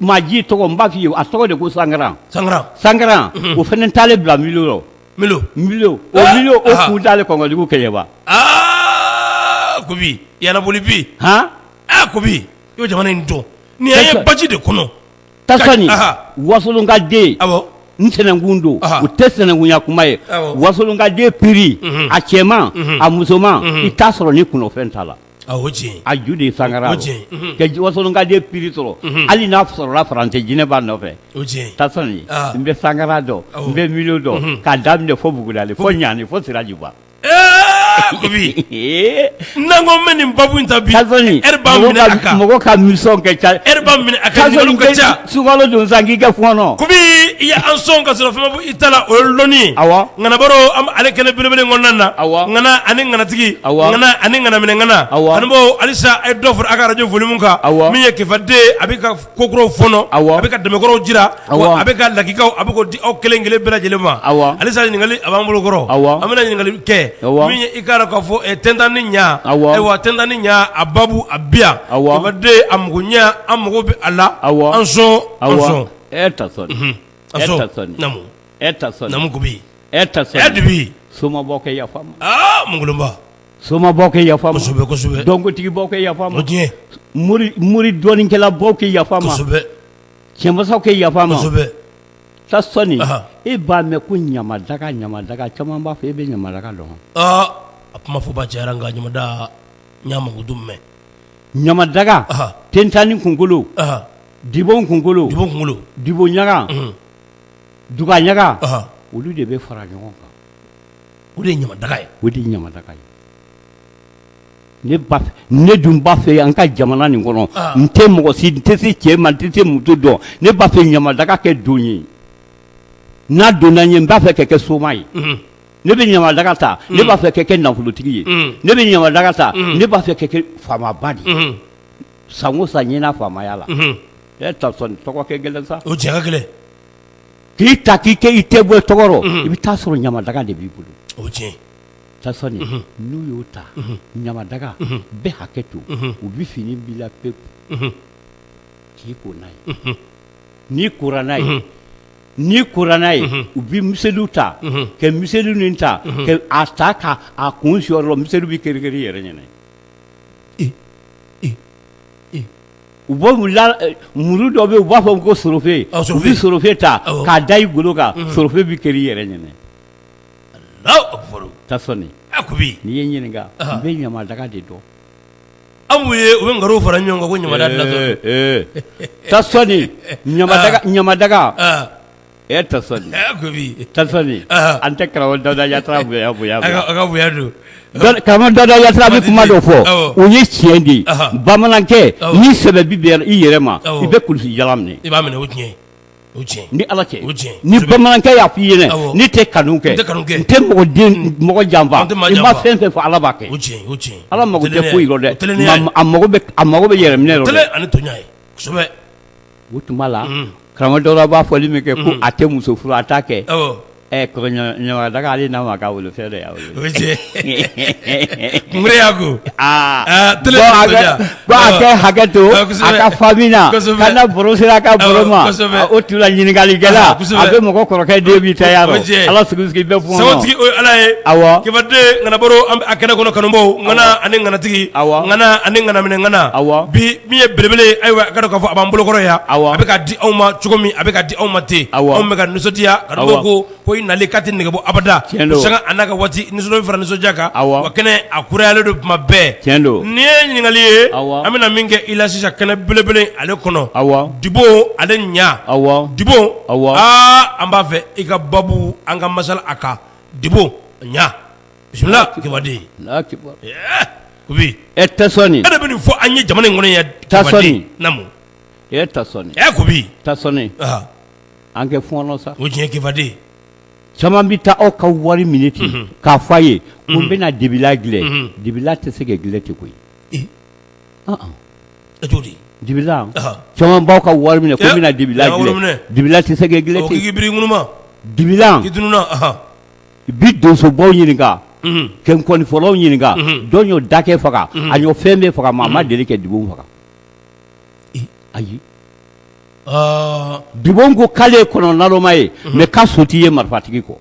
maa ji tɔgɔ n b'a f'i ye a tɔgɔ de ko sankaran sankaran sankaran o fana taalen bila milo rɔ milo milo o milo o kun taalen kɔnkɔdugu kɛɲɛba aa kobi yalaboli bi han aa kobi i bɛ jamana in dɔn ni ye baji de kɔnɔ tasɔni wasolonka den awɔ n sɛnɛnkun don o tɛ sɛnɛnkunya kuma ye wasolonka den piri a cɛman a musoman i t'a sɔrɔ ni kunnafɛn t'a la A o tiɲɛ a ju de ye sankaran o tiɲɛ ka wasolonka den piri sɔrɔ hali n'a sɔrɔla faransi jinɛ b'a nɔfɛ o tiɲɛ tasɔni n bɛ sankaran dɔn n bɛ milo dɔn k'a daminɛ fo bugudali fo ɲani fo sirajiba n'an ko mɛn nin babu in ta mɔgɔ ka misiyɔn ka ca Sunkalo don san k'i kɛ fɔɔnɔ kɔmi i y'an sɔn ka sɔrɔ fɛn ma bɔ i ta la o ye dɔnni ye ŋana baro an b'ale kɛnɛ belebele kɔnɔna na ŋana ani ŋanatigi ani ŋanaminɛ ŋana ani bɔ halisa a ye dɔ fara a ka arajo volimu kan min ye kɛfaden a bɛ ka kokuraw fɔɔnɔ a bɛ ka tɛmɛkɔrɔw jira a bɛ ka lakikaw a bɛ k'o di aw kelen kelen bɛɛ lajɛlen ma halisa ɲininkali a b'an bolokɔrɔ an bɛna ɲininkali kɛ min ye i k'a dɔn k'a fɔ tentanni ɲɛ a tentanni ɲɛ a babu a bi A amaden a mago ɲɛ an mago bɛ a la a an sɔn a e tasɔni namu kobi e tasɔni soma bɛɛ ka yafa n ma soma bɛɛ ka yafa n ma kosɛbɛsɛbɛ dɔnkotigi bɛɛ ka yafa n ma mori dɔnnikɛla bɛɛ ka yafa n ma cɛmasaw ka yafa n ma tasɔni e b'a mɛn ko ɲamadaga ɲamadaga caman b'a fɔ e bɛ ɲamadaga dɔn a kuma fɔbaa cayara nka ɲa ɲa mɛ ɲamadaga tentanni kunkolo dibon kunkolo dibon ɲaga duga ɲaga olu de bɛ fara ɲɔgɔn kan o de ye ɲamadaga ye o de ye ɲamadaga ye ne b'a fɛ ne dun b'a fɛ an ka jamana nin kɔnɔ n tɛ mɔgɔ si n tɛ se cɛ ma n tɛ se muso dɔn ne b'a fɛ ɲamadaga ka don n ye n'a donna n ye n b'a fɛ ka kɛ soma ye ne bɛ ɲamadaga ta ne b'a fɛ ka kɛ nafolotigi ye ne bɛ ɲamadaga ta ne b'a fɛ ka kɛ faamaba de ye sango san ɲɛna faamaya la e Tasɔni tɔgɔ ka gɛlɛn sa o tiɲɛ a ka gɛlɛn k'i ta k'i kɛ i tɛ bɔ tɔgɔ rɔ i bɛ taa sɔrɔ ɲamadaga de b'i bolo o tiɲɛ Tasɔni n'u y'o ta ɲamadaga bɛɛ hakɛ to u bɛ fini b'i la pewu k'i ko n'a ye n'i kora n'a ye n'i kora n'a ye u bɛ miseliw ta ka miseliw nin ta k'a ta k'a kun sɔr'i la miseliw bɛ keri keri i yɛrɛ ɲɛna u bɛ muru dɔ bɛ yen u b'a fɔ ko sorofe u bɛ sorofe ta k'a da i golo kan sorofe bɛ keri i yɛrɛ ɲɛna Tasɔni n'i ye ɲininka n bɛ ɲamadaga de dɔn an b'u ye u bɛ nkalon fara ɲɔgɔn kan ko ɲamadaga ɲa an tɛ Dawuda Yatara karamɔgɔ Dawuda Yatara bɛ kuma dɔ fɔ o ye tiɲɛ de ye bamanankɛ ni sɛbɛ b'i yɛrɛ ma i bɛ kulusi jala minɛ i b'a minɛ o tiɲɛ ni ala cɛ ni bamanankɛ y'a fɔ i ɲɛna n tɛ kanu kɛ n tɛ mɔgɔ janfa i ma fɛn fɛn fɔ ala b'a kɛ ala mako tɛ foyi rɔ dɛ a mako bɛ yɛrɛ minɛ o tuma la karamɔgɔ Dawuda b'a fɔli min kɛ ko a tɛ muso furu a t'a kɛ ɛ ko ɲamadaga ale n'a ma k'a wolo fɛn dɔ y'a wolo o tiɲɛ kunbere y'a ko ko a ka hakɛ to Ah, kosɛbɛ. a ka famille na Kosɛbɛ. ka na baro sera a ka baro ma Ah, kosɛbɛ. Ah, o tuma la ɲininkalikɛla Ah, kosɛbɛ. a bɛ mɔgɔ kɔrɔkɛ den b'i ta y'a O dɔn cɛ. ala sigi sigi bɛɛ fɔ sagotigi o ye ala ye Awɔ. kibaden ŋanabaro an bɛ a kɛnɛ kɔnɔ kanubaw ŋana ani ŋanatigi Awɔ. ŋana ani ŋanaminɛ ŋana Awɔ. bi min ye belebele ye ayiwa a k'a dɔn k'a fɔ a b'an bolokɔrɔ yan Awɔ. a bɛ ka di anw ma cogo min a bɛ ka di anw ma ten Awɔ. anw bɛ ka nisɔndiya ko ko i nali k'a tɛ nɛgɛbɔ abada sanga n'a ka waati nisɔndiya fara nisɔndiya kan wa kɛnɛ a kurayalen don tuma bɛɛ tiɲɛ don nin ye ɲininkali ye an bɛna min kɛ i la sisan kɛnɛ belebele ale kɔnɔ awɔ dibo ale ɲa awɔ dibo aa an b'a fɛ i ka babu an ka masala a kan dibo ɲa kibaden Kubi Tasɔni e de bɛ nin fɔ an ye jamana in kɔnɔ yan namu Kubi ta an kɛ fɔɔnɔ sa o tiɲɛ kibaden caman bɛ taa aw ka wari minɛ ten unhun k'a fɔ a ye ko n bɛna dibila gilɛ unhun dibila tɛ se ka gilɛ ten koyi ee ɔn ɔn e t'o di dibila ɔhɔ caman b'aw ka wari minɛ ko n bɛna dibila ee wari minɛ dibila tɛ se ka gilɛ ten k'i biri ŋunuma dibilan k'i tununa ɔhɔ i bi donsobaw ɲininka unhun ka nkɔnifɔlaw ɲininka unhun dɔ y'o dagɛ faga a y'o fɛn bɛɛ faga maa ma deli ka dibo faga ee ayi dibon ko k'ale ye kɔnɔ naloma ye mɛ k'a su tɛ ye marifatigi kɔ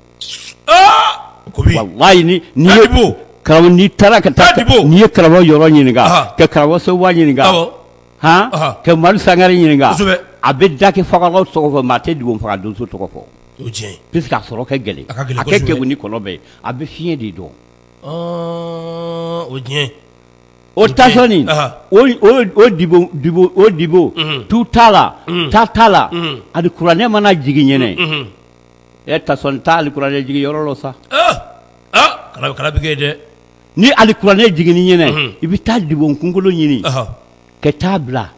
n'i taara ka taa n'i ye karamɔgɔ Yɔrɔ ɲininka ka karamɔgɔ Sekuba ɲininka ka Madu Sangare ɲininka a bɛ dakɛ fagala tɔgɔ fɔ maa tɛ dibon faga donso tɔgɔ fɔ puisque a sɔrɔ ka gɛlɛn a ka kegun ni kɔnɔ bɛɛ a bɛ fiɲɛ de dɔn o O Tasɔni o dibon tu t'a la ta t'a la alikuranɛ mana jigin ɲɛna Tasɔni taa alikuranɛ jigin yɔrɔ la sa dɛ ni alikuranɛ jiginni ɲɛna i bɛ taa dibon kunkolo ɲini ka taa bila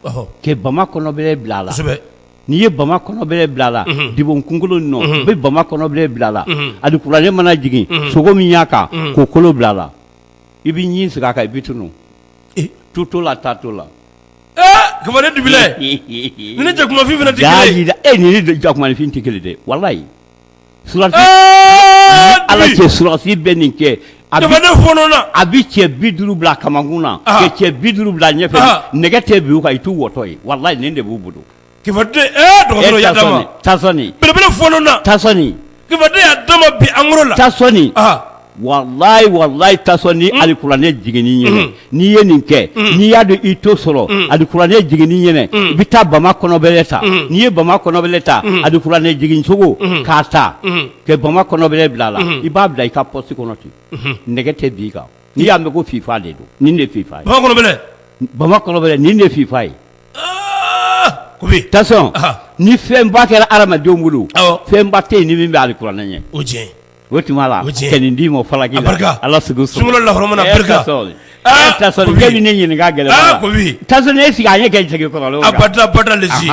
ka bama kɔnɔbɛlɛ bila a la n'i ye bama kɔnɔbɛlɛ bila a la dibon kunkolo nɔ i bɛ bama kɔnɔbɛlɛ bila a la alikuranɛ mana jigin sogo min y'a kan k'o kolo bila a la i bɛ ɲin sigi a kan i bɛ tunu tu to la taa to la Kibaden dibilan ni jakumafin fana jira e ni jakumafin tɛ kelen dɛ walayi Ala cɛ Surasi bɛ nin kɛ a ne fɔlɔ a bɛ cɛ bi duuru bila a kamankun na ka cɛ bi duuru bila ɲɛfɛ nɛgɛ tɛ bin u kan i t'u bɔtɔ ye walayi nin de b'u bolo Ɛɛ beleele alikuranɛ jigin n'i ye nin kɛ n'i y'a don i to sɔrɔ akuranɛ jigin ɲɛna i bɛ taa bama kɔnɔb ta n'i ye bama kɔnɔb ta auranɛ jigincogo k'a ta ka bama kɔnɔ bila a la i b'a bila i ka psi kɔnɔ ten nɛgɛ tɛ bi kan n'i y'a mɛn ko f' de don de f' ye bama kɔnɔ de f' ye ni fɛn ba kɛra adamadenw bolo fɛn ba tɛ yen ni min bɛ alikuranɛ ɲɛ o o tuma la ka nin d'i ma falaki Ala la Tasɔni k'e bɛ ne ɲininka gɛlɛn Tasɔni e sigi an ɲɛ kɛ jɛgɛ kɔrɔ abada lesɔn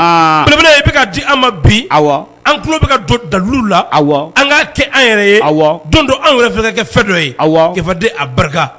belebele i bɛ ka di an ma bi awɔ an tulo bɛ ka don dalilu la awɔ an ka kɛ an yɛrɛ ye awɔ don dɔ anw yɛrɛ fɛ ka kɛ fɛn dɔ ye awɔ Kibaden a barika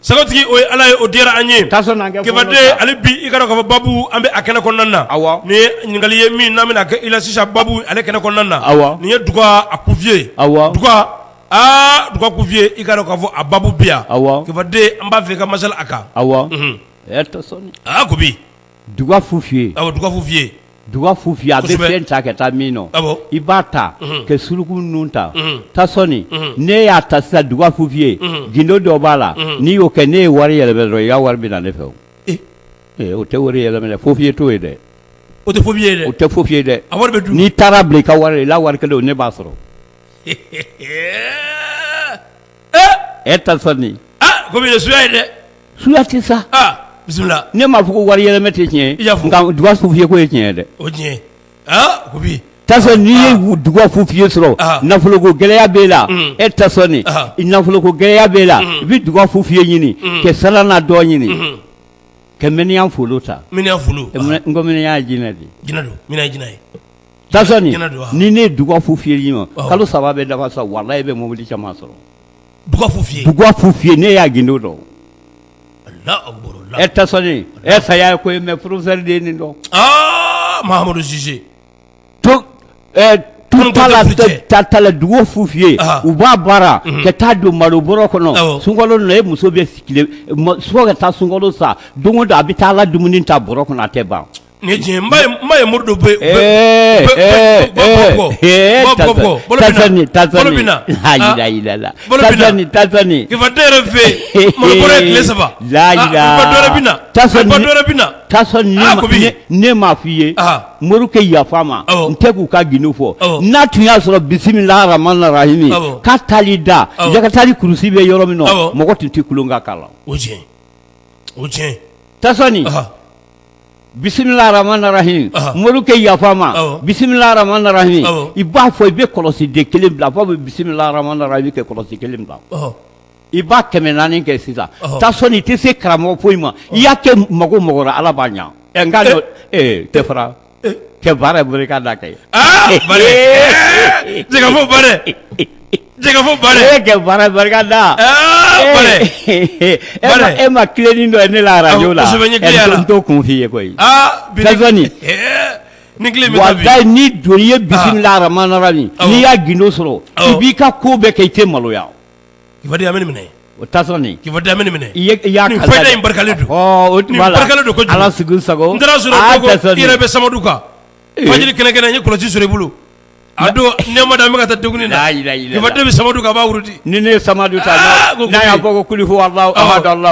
Sagotigi o ye Ala ye o diyara an ye, Kibaden hali bi i k'a dɔn k'a fɔ baabu an bɛ a kɛnɛ kɔnɔna na, awɔ, nin ye ɲininkali ye min n'an bɛna kɛ i la sisan baabu ale kɛnɛ kɔnɔna na, awɔ, nin ye Duga a kufin ye, awɔ, Duga aa Duga kufin ye i k'a dɔn k'a fɔ a baabu bɛ yan, awɔ, kibaden an b'a fɛ i ka masala a kan, awɔ, unhun, ɛ tɛ sɔn dɛ, aa Kubi duga fu f'i ye, awɔ, duga fu f'i ye, duga fu f'i ye, kosɛbɛ, a bɛ fɛn ta ka taa min na, awɔ, i b'a ta, unhun, ka suruku nun ta, unhun, tasɔni, unhun, n'e y'a ta sisan duga fu f'i ye, unhun, gundo dɔ b'a la, unhun, n'i y'o kɛ n'e ye wari yɛlɛma dɔrɔn i ka wari bɛ na ne fɛ o, e, ee o tɛ wari yɛlɛma dɛ fo f'i ye t'o ye dɛ, o tɛ fo f'i ye dɛ, o tɛ fo f'i ye dɛ, a wari bɛ dun, n'i taar'a bila i ka wari la i la wari kelen o ne b'a sɔrɔ e Tasɔni ko suya ye dɛ suya tɛ sa bisimila ne m'a fɔ ko wari yɛlɛma tɛ tiɲɛ nka duga fufiye ko ye tiɲɛ dɛ o tiɲɛ n'i ye duga fufiye sɔrɔ nafoloko gɛlɛya b'e la Tasɔni nafoloko gɛlɛya b'e la i bɛ duga fufiye ɲini kɛ sara n'a dɔ ɲini kɛ miniyan folo ta n ko miniyan ye jinɛ de ni ne duga fufiye i ma kalo saba bɛ dafa sa walayi i bɛ mobili caman sɔrɔ ne y'a gindo dɔn Tasɔni saya ye ko mɛ porofesɛri de nin dɔnmadu la duga fufiye u b'a baara ka taa don malo bɔrɔ kɔnɔ sunkalo na e muso bɛ so ka taa sunkalo sa don o don a bɛ taa la dumuni ta bɔrɔ kɔnɔ a tɛ ban Ni diɲɛ ba ye mori don bɔ fɛ ne m'a fɔ i ye morikɛ yafa ma n tɛ k'u ka gindo fɔ n'a tun y'a sɔrɔ bisimila rahamani rahimi ka taali da ka taali kulusi bɛ yɔrɔ min na mɔgɔ tun tɛ kolonkan kala o bisimila rahamani rahimi morikɛ yafa ma bisimila rahamani rahimi i b'a fɔ i bɛ kɔlɔsiden kelen bila fɔ bɛ bisimila rahamani rahimi kɛ kɔlɔsi kelen bila i b'a kɛmɛ naani kɛ sisan Tasɔni i tɛ se karamɔgɔ foyi ma i y'a kɛ mako o mako la Ala b'a ɲɛ nka tɛ fara cɛ baara ye bolo k'a da kɛ jɛgɛfo baara jɛgɛfo baara e kɛ baara barika da e ma tilenin dɔ ye ne la arajo la n t'o kun f'i ye koyi ni ni don ye bisimila rahamani rahimi n'i y'a gindo sɔrɔ i b'i ka ko bɛɛ kɛ i tɛ maloya kibaden amina minɛ o ta sɔrɔ kiba da minɛ i y' don ala sago yɛrɛ bɛ samadu kan waati kɛlɛkɛ ye kɔlɔsi sɔrɔ i bolo a don nɛma da bɛ taa dumuni ni bɛ samadu kan a b'a wurudi ni ne ye samadu ta y'a fɔ ko kuli fo sa sa dɔn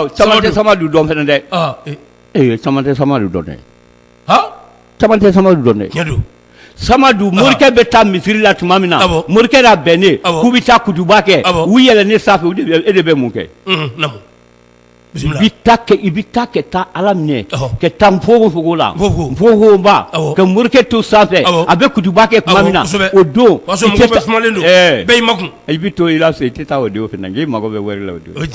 dɛ sa sa dɔn dɛ tɛ samadu dɔn dɛ samadu morikɛ bɛ taa misiri la tuma min na morikɛ n'a bɛnnen k'u bɛ taa kutuba kɛ u yɛlɛnnen sanfɛ e de bɛ mun kɛ i bɛ taa ka taa ala minɛ ka taa npogoko la npogoba ka morikɛ to sanfɛ a bɛ kutuba kɛ tuma min na o don i bɛ to i la so i tɛ taa o don fana i mago bɛ wari la o don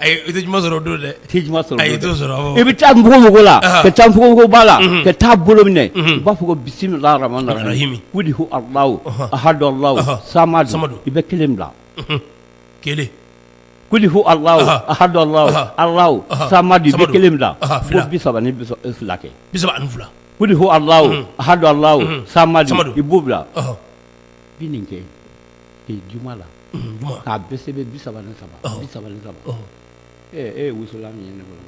i tɛ juma sɔrɔ don dɛ tɛ juma sɔrɔ i t'o sɔrɔ i bɛ taa mɔgɔmɔgɔ la ka taa npogoba la ka taa bolo minɛ u b'a fɔ ko bisimila i bɛ kelen bila kelen ko sa kelen bila bisa ni fila kɛ bisa ani fila ko sa i b'o bila bi nin kɛ juma la k'a bɛɛ sɛbɛn bi saba ni saba bi saba ni saba e ye wusulan min ye ne bolo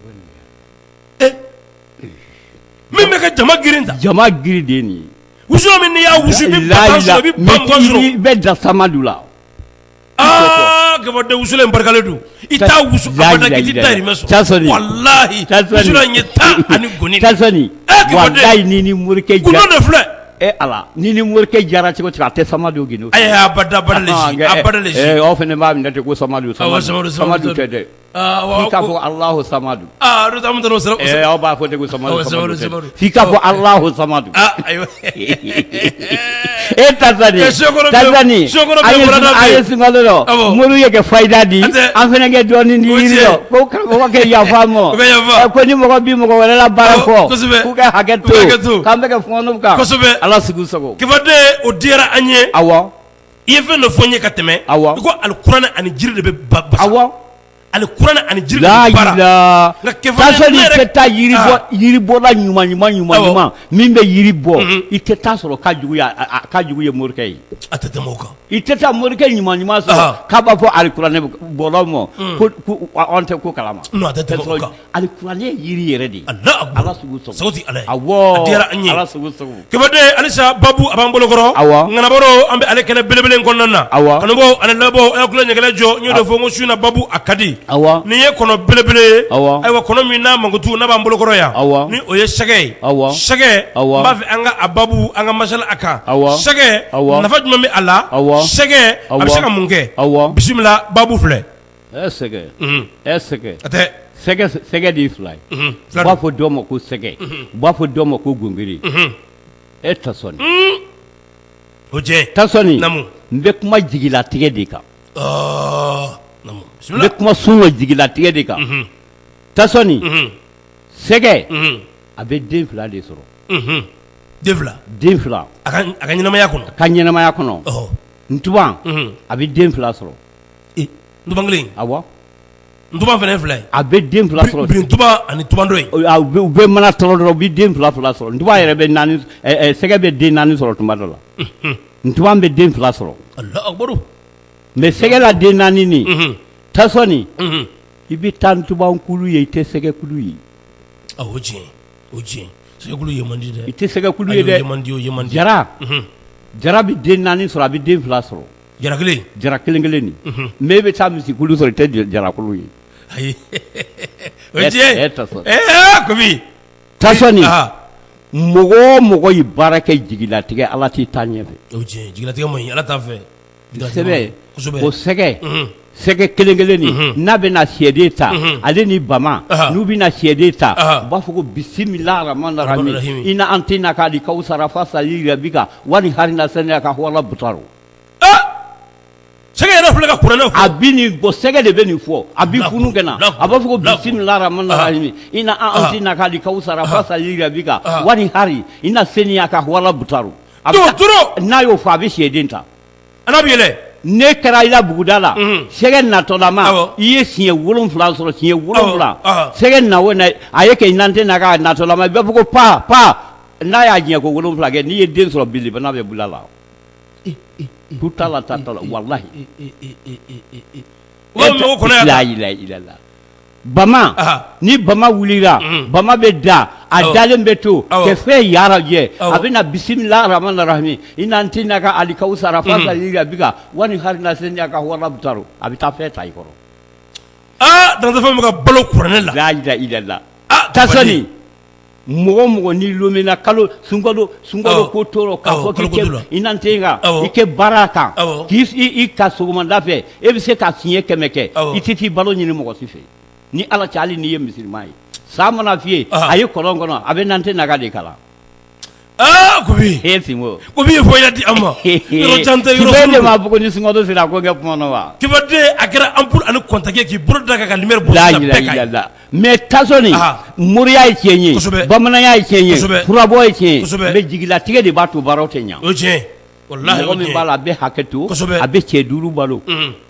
min bɛ ka jama girin ta jama girin de nin wusulan min n'i y'a wusu i bɛ ba mugan sɔrɔ i bɛ da samadu la Kefade wusulan in barikalen don I taa wusu k'i taahiyi tan ani gɔni ni ni morikɛ de filɛ e ala ni ni morikɛ jara cogo a tɛ sama don gdo fana b'a minɛ ten ko sama sama tɛ dɛ k'a fɔ ala sama don aw b'a fɔ k'i k'a fɔ alahu samadu e moriw ye kɛ fayida di an fana kɛ dɔɔnin di karamɔgɔkɛ yafa n ma ko ni mɔgɔ bi mɔgɔ wɛrɛ la baara fɔ k'u kɛ hakɛ to k'an bɛ kɛ fɔnw kan ala sago i sago Kefade o diyara an ye awɔ i ye fɛn dɔ fɔ n ye ka tɛmɛ i ko alikuranɛ ani jiri de bɛ baara awɔ alikuranɛ ani jiri la baara ilaha illallah nka kɛfɛrɛya Tasoni i yɛrɛ- tɛ taa yiri bɔ Ah. yiri bɔla ɲuman ɲuman ɲuman Awɔ. ɲuman min bɛ yiri bɔ Mhm. i tɛ taa sɔrɔ k'a jugu ye a- a- a- k'a jugu ye morikɛ ye a tɛ tɛmɛ o kan i tɛ taa morikɛ ɲuman ɲuman sɔrɔ Ah. k'a b'a fɔ alikuranɛ bɔlaw ma ko ko an tɛ ko kalama nɔn a tɛ tɛmɛ o kan alikuranɛ ye yiri yɛrɛ de ye Kefade halisa babu a b'an bolokɔrɔ ŋanabaro an bɛ ale kɛnɛ belebele kɔnɔna na kanubaw ani labɔ a ku ɲɛgɛlɛ jɔ n y'o de fɔ ko su in na babu a ka di nin ye kɔnɔ belebele ayiwa kɔnɔ min n'a mankutu n b'an bolokɔrɔ yan ni o ye sɛgɛ ye sɛgɛ n b'a fɛ an ka a babu an ka masala a kan sɛgɛ nafa jumɛn bɛ a la sɛgɛ a bɛ se ka mun kɛ bisimila babu filɛ Ɛɛ sɛgɛ ɛ sɛgɛ sɛgɛ sɛgɛ de fila u b'a fɔ dɔw ma ko sɛgɛ u b'a fɔ dɔw ma ko gungiri e Tasoni o cɛ Tasoni n bɛ kuma jigilatigɛ de kan n bɛ kuma sun ka jigilatigɛ de kan Tasoni sɛgɛ a bɛ den fila de sɔrɔ den fila den fila a ka ɲɛnamaya kɔnɔ a ka ɲɛnamaya kɔnɔ ntuban a bɛ den fila sɔrɔ kelen awɔ ntuban fana filɛ a bɛ den fila sɔrɔ birintuban ani ntuban dɔ ye u bɛ mana tɔrɔ dɔrɔn u bɛ den fila fila sɔrɔ ntuban yɛrɛ bɛ sɛgɛ bɛ den naani sɔrɔ tuma dɔ la ntuban bɛ den fila sɔrɔ mais sɛgɛ la den naani nin tasɔni i bɛ taa ntubankulu ye i tɛ sɛgɛkulu ye o tiɲɛ sɛgɛkulu ye man di i tɛ sɛgɛkulu ye dɛ jara jara bɛ den naani sɔrɔ a bɛ den fila sɔrɔ jara kelen jara kelen kelen nin mais i bɛ taa misi kulu sɔrɔ i tɛ jara kulu ye ayi tasɔni mɔgɔ o mɔgɔ ye baara kɛ jigilatigɛ ala t'i taa ɲɛfɛ jigilatigɛ man ɲi ala t'a fɛ ko sɛgɛ sɛgɛ kelen kelen nin n'a bɛ na sɛden ta ale ni bama n'u bɛ na sɛden ta u b'a fɔ ko bisimila rahmani rahimi ina antɛna ka alikawsara fasali li rabika wani hari ina saniya ka sɛgɛ de bɛ nin fɔ a bɛ funu kɛ na a b'a fɔ ko bisimila rahmani rahimi ina antɛna ka alikawsara fasali rabika wani hari ina saniya ka wala butaru n'a y'o fɔ a bɛ sɛden ta a bɛ yɛlɛn ne kɛra i la buguda la sɛgɛ natɔlama i ye siɲɛ wolon wolonwula sɔrɔ siɲɛ wolonwula sɛgɛ na a ye kɛ nantɛna ka natɔlama i b'a fɔ ko pan pan n'a y'a siɲɛ ko wolonwula kɛ n'i ye den sɔrɔ biba bɛ bolo la tu ta la ta la walahi la ilaha ilala bama ni bama wulila bama bɛ da a dalen bɛ to kɛ fɛn yarajɛ a bɛ na bisimila rahmani rahimi ina antɛna ka alikawsara fasali li rabika wani hari ina saniya ka wala butaru a bɛ taa fɛn ta i kɔrɔ aa danfɛn bɛɛ ka balo kuranɛ la la ilaha ilala mɔgɔ o mɔgɔ ni lomina kalo sunkalo sunkalo ko t'o rɔ ka fɔ k'i kɛ inantɛna ka i kɛ baara kan k'i ka sɔgɔmada fɛ e bɛ se ka siɲɛ kɛmɛ kɛ i tɛ t'i balo ɲini mɔgɔ si fɛ ni ala cɛ hali n'i ye misilima ye sa mana f'i ye a ye kɔlɔn kɔnɔ a bɛ nantɛna ka de kalan Aa kobi e sinko kobi fɔ y'a di an ma yɔrɔ jan tɛ yɔrɔ ne m'a fɔ ko ni sunkalo sera ko kɛ kuma na wa kifaden a kɛra ampoule ani contact k'i bolo da a kan ka lumière bɔ la ilaha ilala mais tasɔni moriya ye tiɲɛ ye bamananya ye tiɲɛ ye furabɔ ye tiɲɛ ye mais jigilatigɛ de b'a to baaraw tɛ ɲɛ o ye tiɲɛ ye min b'a la a bɛ hakɛ to a bɛ cɛ duuru balo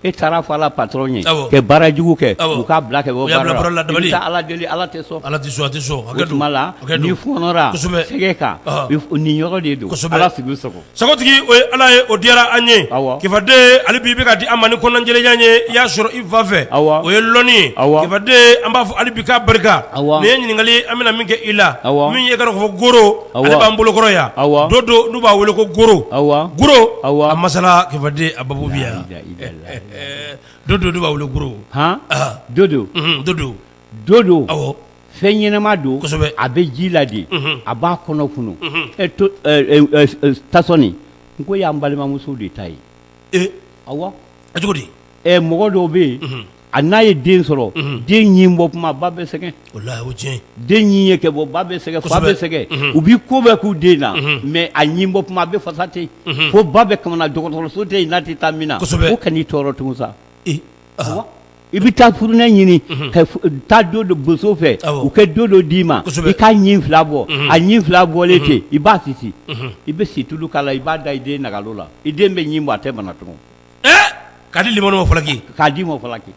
e taara a fɔ a la patron ye kɛ baara jugu kɛ u k'a bila kɛ bɔ baara la i bɛ taa ala deli ala tɛ sɔn o tuma la n'i fɔnɔra sɛgɛ kan nin yɔrɔ de don ala sigi sago sagotigi o ye ala ye o diyara an ye kifaden hali bi i bɛ ka di an ma ni kɔnɔnajɛlenya ye i y'a sɔrɔ i fa fɛ o ye lɔnni ye kifaden an b'a fɔ hali bi ka barika nin ye ɲininkali an bɛna min kɛ i la min ye goro b'an bolokɔrɔ yan dodo n'u b'a weele ko goro a masala Kifaden a babu bi yan dodo n'u b'a wele goro dodo dodo dodo awɔ fɛn ɲɛnɛma don a bɛ ji la de a b'a kɔnɔ funu tasɔni nk'o y'an balimamuso de ta ye awɔ a cogo ɛ mɔgɔ dɔw bɛ yen unhun, a n'a ye den sɔrɔ unhun, den ɲin bɔ tuma ba bɛ sɛgɛn, walahi o ye tiɲɛ ye, den ɲin ye kɛ bɔ ba bɛ sɛgɛn, fa bɛ kosɛbɛ, sɛgɛn, unhun, u bɛ ko bɛɛ k'u den na unhun, mais a ɲin bɔ tuma a bɛ fasa ten, unhun, fo ba bɛ kamana dɔgɔtɔrɔso tɛ yen n'a tɛ taa min na, kosɛbɛ, o kan'i tɔɔrɔ tugun sa, ee, ɔhɔ, awɔ, i bɛ taa furunɛ ɲini, unhun, ka taa dodo boso fɛ, awɔ, u kɛ dodo d'i ma, kosɛbɛ, i k'a ɲin fila bɔ, unhun, a ɲin fila bɔlen ten, i b'a sisi, unhun, i bɛ situlu k'a la i b'a da i den nagalo la, i den bɛ ɲin bɔ a tɛ bana tugun k'a di limanu ma falaki k'a di ma falaki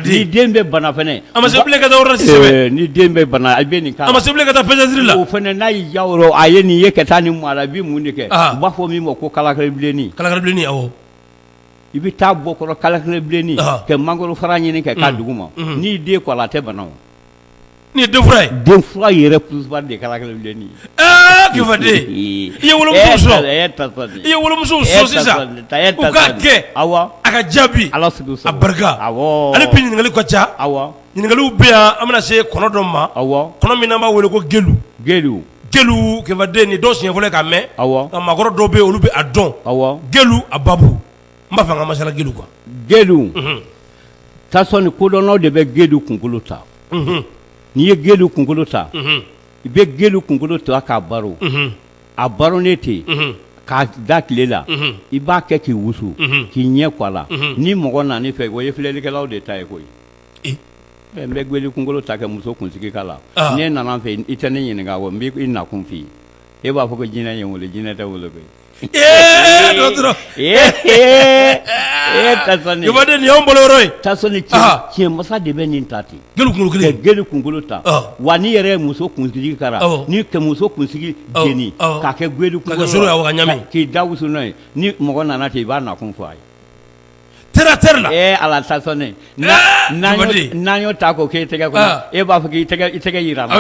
ni den bɛ bana fana a ma se bilen ka taa yɔrɔ si ni den bɛ bana a bɛ nin a ma se bilen ka taa pédiatrie la o fana n'a y'i ja yɔrɔ a ye nin ye ka taa ni maa la i bɛ mun de kɛ u b'a fɔ min ma ko kalakaribilenni kalakaribilenni awɔ i bɛ taa bɔ kɔrɔ kalakaribilenni kɛ mangoro fara ɲini kɛ k'a dugu ma n'i den ko a la a tɛ bana Nin ye denfura ye, denfura yɛrɛ principal de ye kalakaribilenni ye, ɛɛ Kifaden i ye wolomuso sɔrɔ, e y'a ta sa dɛ, i ye wolomuso sɔrɔ sisan u k'a kɛ, awɔ, a ka jaabi, Ala sago i sago, a barika, awɔ, hali bi ɲininkaliw ka ca, awɔ, ɲininkaliw bɛ yan an bɛna se kɔnɔ dɔ ma, awɔ, kɔnɔ min n'an b'a wele ko gelu, gelu, gelu Kifaden nin ye dɔw siɲɛ fɔlɔ ye k'a mɛn, awɔ, nka maakɔrɔ dɔw bɛ yen olu bɛ a dɔn, awɔ, gelu a babu n b'a fɛ an ka masala gelu kan gelu tasɔni kodɔnnaw de bɛ gelu kunkolo ta n'i ye gelu kunkolo ta i bɛ gelu kunkolo ta k'a baro a barolen ten k'a da tile la i b'a kɛ k'i wusu k'i ɲɛ kɔ a la ni mɔgɔ nan'i fɛ o ye filɛlikɛlaw de ta ye koyi n bɛ gelu kunkolo ta kɛ muso kunsigi k'a la n'e nana n fɛ i tɛ ne ɲininka n b'i nakun f'i ye e b'a fɔ ko jinɛ ye n wele jinɛ tɛ wele koyi Ee dɔgɔtɔrɔ ee ee ee tasɔni Kifaden nin y'anw bolo yɔrɔ ye tasɔni Aa. cɛ masa de bɛ nin ta ten gelu kunkolo kelen gelu kunkolo ta Ɔ. wa n'i yɛrɛ ye muso kunsigi k'a la Awɔ. ni ka muso kunsigi Awɔ, jeni awɔ. k'a kɛ gelu kunkolo sɔrɔ yan, wa ka ɲami. k'i da wusu n'a ye ni mɔgɔ nana ten i b'a nakun fɔ a ye n'an y'o ta k'o k'e tɛgɛ e b'a fɔ k'i tɛgɛ yira n na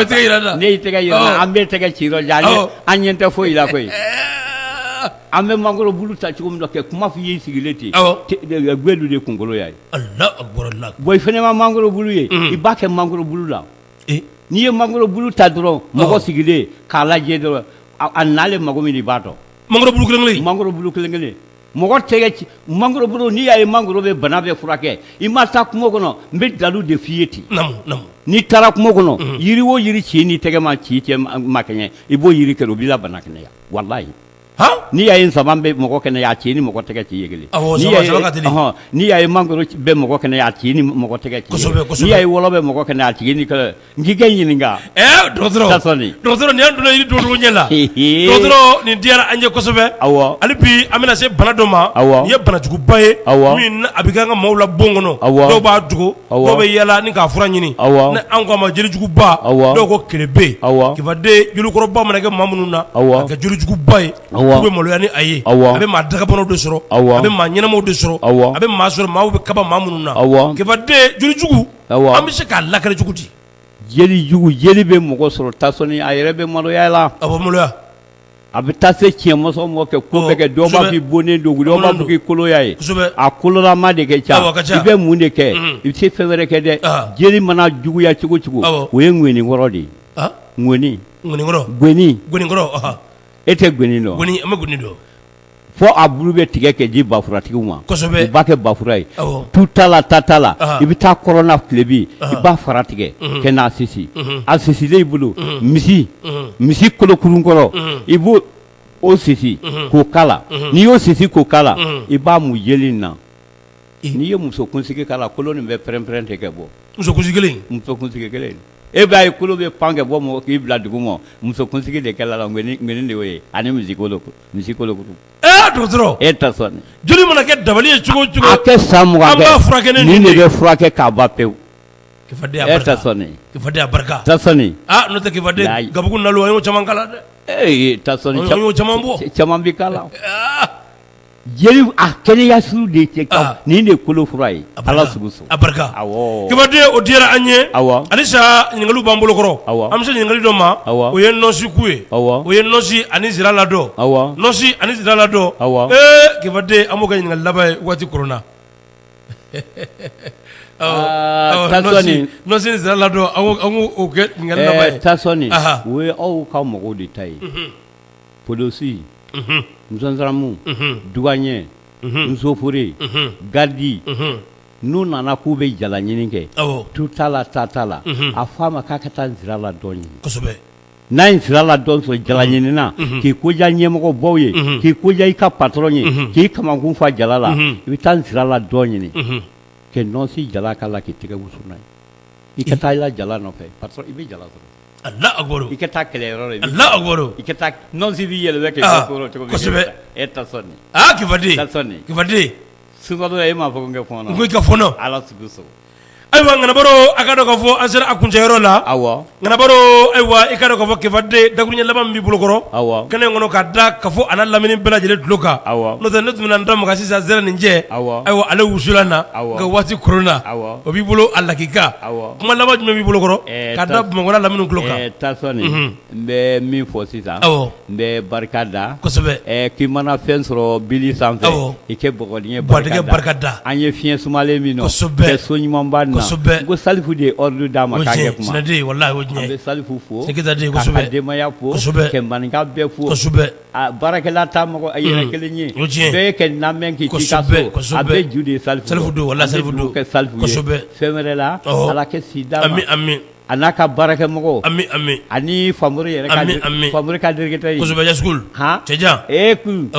an bɛ tɛgɛ ci an ɲɛ tɛ foyi la koyi an bɛ mangoro bulu ta cogo min kɛ kuma f'i y'i sigilen ten gelu de kunkolo y'a ye bon i fana ma mangoro bulu ye i b'a kɛ mangoro bulu la n'i ye mangoro bulu ta dɔrɔn mɔgɔ sigilen k'a lajɛ dɔrɔn a nalen mago min i b'a dɔn mangoro bulu kelen mangoro kelen kelen Mɔgɔ tɛgɛ ci mangoro bulu n'i y'a ye mangoro bɛ bana bɛɛ furakɛ i ma taa kungo kɔnɔ n bɛ dalu de f'i ye ten n'i taara kungo kɔnɔ yiri o yiri ci n'i tɛgɛ ma ci cɛ ma kɛɲɛ i b'o yiri kɛ o b'i la bana kɛnɛya walayi n'i y'a ye nsaban bɛ mɔgɔ kɛnɛya a ci ni mɔgɔ tɛgɛ ci ye kelen n'i y'a ye mangoro bɛ mɔgɔ kɛnɛya a ci ni mɔgɔ tɛgɛ ci n'i y'a ye wɔlɔ bɛ mɔgɔ kɛnɛya a ci ni N k'i ka ɲininka ɛɛ dɔgɔtɔrɔ Tasɔni nin dɔgɔtɔrɔ nin y'an donna yiri don cogo ɲɛ la eehee dɔgɔtɔrɔ nin diyara an ye kosɛbɛ awɔ hali bi an bɛna se bana dɔ ma awɔ nin ye bana juguba ye awɔ min n'a a bɛ kɛ an ka maaw la bon kɔnɔ awɔ dɔw b'a dogo awɔ dɔw bɛ yaala ni k'a fura ɲini awɔ ni anw k'a ma joli juguba awɔ dɔw ko kelebe awɔ Kifaden jolikɔrɔba mana kɛ maa minnu na awɔ a bɛ kɛ joli juguba ye awɔ u bɛ maloya ni a ye awɔ a bɛ maa dagabanaw de sɔrɔ awɔ a bɛ maa ɲɛnamaw de sɔrɔ awɔ a bɛ maa sɔrɔ maaw bɛ kaba maa minnu na awɔ Kifaden joli jugu an bɛ se k'a lakali cogo di jelijugu jeli bɛ mɔgɔ sɔrɔ Tasɔni a yɛrɛ bɛ maloya la a maloya a bɛ taa se cɛ masa ma kɛ ko bɛɛ kɛ dɔw b'a fɔ i bonnen don dɔw b'a fɔ k'i koloya ye a kololama de kɛ ca i bɛ mun de kɛ i bɛ se fɛn wɛrɛ kɛ dɛ jeli mana juguya cogo cogo o ye ŋɔnikɔrɔ de ye ŋɔnikɔrɔ ŋ e tɛ gɔni dɔn an bɛ gɔni dɔn fo a bulu bɛ tigɛ kɛ di bafuratigi ma b'a kɛ bafura ye tu t'a la ta t'a la i bɛ taa kɔrɔnna tilebi i b'a fara tigɛ kɛ n'a sisi a sisilen i bolo misi misi kolokurunkɔrɔ i b'o o sisi k'o kala n'i y'o sisi k'o kala i b'a mu jeli na n'i ye muso kunsigi kala kolo nin bɛ pɛrɛnpɛrɛn tɛ kɛ bɔ muso kunsigi kelen e b'a ye kolo bɛ pan kɛ bɔ mɔgɔ k'i bila dugu ma muso kunsigi de kɛ la de y'o ye ani misi kolo misi kolo dɔgɔtɔrɔ e Tasɔni joli mana kɛ dabali ye cogo cogo a kɛ sa b'a furakɛ nin de bɛ furakɛ k'a ban pewu barika n'o tɛ Kifaden gabugu na o caman kala dɛ ee Tasɔni caman bɔ caman bɛ kala jeli a kɛnɛya sugu de cɛ nin de kolo fura ye ala a barika awɔɔ Kifaden o diyara an ye awɔ halisa ɲininkaliw b'an bolokɔrɔ awɔ an bɛ se ɲininkali dɔ ma awɔ o ye nɔsi ku ye awɔ o ye nɔsi ani zira ladɔn awɔ nɔsi ani zira ladɔn awɔ ee Kifaden an b'o kɛ ɲininkali laban ye waati koronna aa Tasɔni nɔsi ni zira ladɔn an k'o an k'o kɛ ɲininkali laban ye ɛɛ Tasɔni anhan o ye aw ka mɔgɔw de ta ye unhun polosi unhun nzanzaramu unhun duwaɲɛ nsofore garidi n'u nana k'u bɛ jala ɲini kɛ tu t'a la ta t'a la a fɔ a ma k'a ka taa nsira ladɔn ɲini n'a ye nsira ladɔn sɔrɔ jala ɲinina k'i ko diya ɲɛmɔgɔ baw ye k'i ko diya i ka patɔrɔn ye k'i kamakun fa jala la i bɛ taa nsira ladɔn ɲini kɛ nɔsi jalan k'a la k'i tɛgɛ wusu n'a ye i ka taa i la jala nɔfɛ i bɛ jala sɔrɔ Allah akbar i ka taa kɛlɛyɔrɔ la Allah akbar i ka taa nɔnsi b'i yɛlɛma kɛ cogo kosɛbɛ e Tasɔni kifadenya sodɔ e m'a fɔ n kɛ kɔnɔ ko i ka fɔlɔ ala so ayiwa ŋanabaro a ka dɔn k'a fɔ an sera a kuncɛyɔrɔ la awɔ ŋanabaro ayiwa i ka dɔn k'a fɔ kifaden dakuruɲɛ laban b'i bolo kɔrɔ awɔ kɛnɛ in kɔnɔ ka da kafo a n'a lamini bɛɛ lajɛlen tulo kan awɔ ne tun bɛna n da maga sisan zɛrɛ nin jɛ awɔ ayiwa ale wusulan na ka waati koronna o b'i bolo a lakika Kuma laban jumɛn b'i bolo kɔrɔ ka da Bamakɔ n'a lamini tulo kan Tasɔni n bɛ min fɔ sisan n bɛ barika da kosɛbɛ k'i mana fɛn sɔrɔ bili sanfɛ i kɛ bɔgɔdingɛ barika da an ye fiɲɛ sumalen min so ɲumanba na n ko Salifu de ye ordre d'a ma k'a kɛ kuma an bɛ Salifu fo k'a ka denbaya fo ka maninka bɛɛ fo A baarakɛla ta mɔgɔ a yɛrɛ kelen ye bɛɛ kɛ na k'i a bɛ ju de safɛ fɛn wɛrɛ la ala kɛ sida a n'a ka baarakɛ mɔgɔw ani fa yɛrɛ fabakasɛbɛ cɛjan ee kun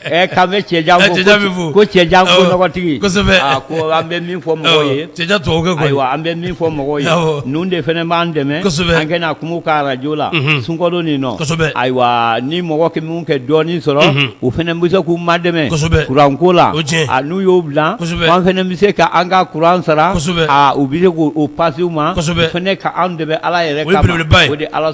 Ɛ k'an bɛ cɛjan fo, cɛjan bɛ fo, ko cɛjan ko nɔgɔtigi, kosɛbɛ, a ko an bɛ min fɔ mɔgɔw ye, awɔ, cɛjan tubabu kan kɔni, ayiwa an bɛ min fɔ mɔgɔw ye, awɔ, ninnu de fana b'an dɛmɛ, kosɛbɛ, an kana kuma a ka radio la, unhun, sunkalo nin na, kosɛbɛ, ayiwa ni mɔgɔ kɛ minnu kɛ dɔɔnin sɔrɔ, unhun, u fana bɛ se k'u madɛmɛ, kosɛbɛ, courant ko la, o ye tiɲɛ ye, a n'u y'o bila, kosɛbɛ, an fana bɛ se ka an ka courant sara, kosɛbɛ, aa u bɛ se k'o passer u ma, kosɛbɛ, u fana k'an dɛmɛ Ala yɛrɛ kama, o ye belebeleba ye, o de ye Ala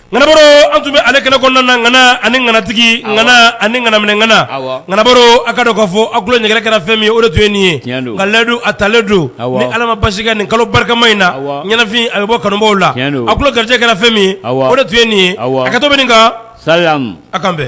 ŋanabaro an tun bɛ ale kɛnɛ kɔnɔna na ŋana ani ŋanatigi ŋana ani ŋanaminɛ ŋana, awɔ, ŋanabaro a' ka dɔn k'a fɔ aw tulo ɲɛgɛnɛ kɛra fɛn min ye o de tun ye nin ye, tiɲɛ don, nka layidu a talen don, awɔ, ni Ala ma basi kɛ nin kalo barikama in na, awɔ, ɲɛnafin a bɛ bɔ kanubaaw la, tiɲɛ don, aw tulo garijɛgɛ kɛra fɛn min ye, awɔ, o de tun ye nin ye, awɔ, hakɛto bɛ nin kan, salamu, a' k'an bɛn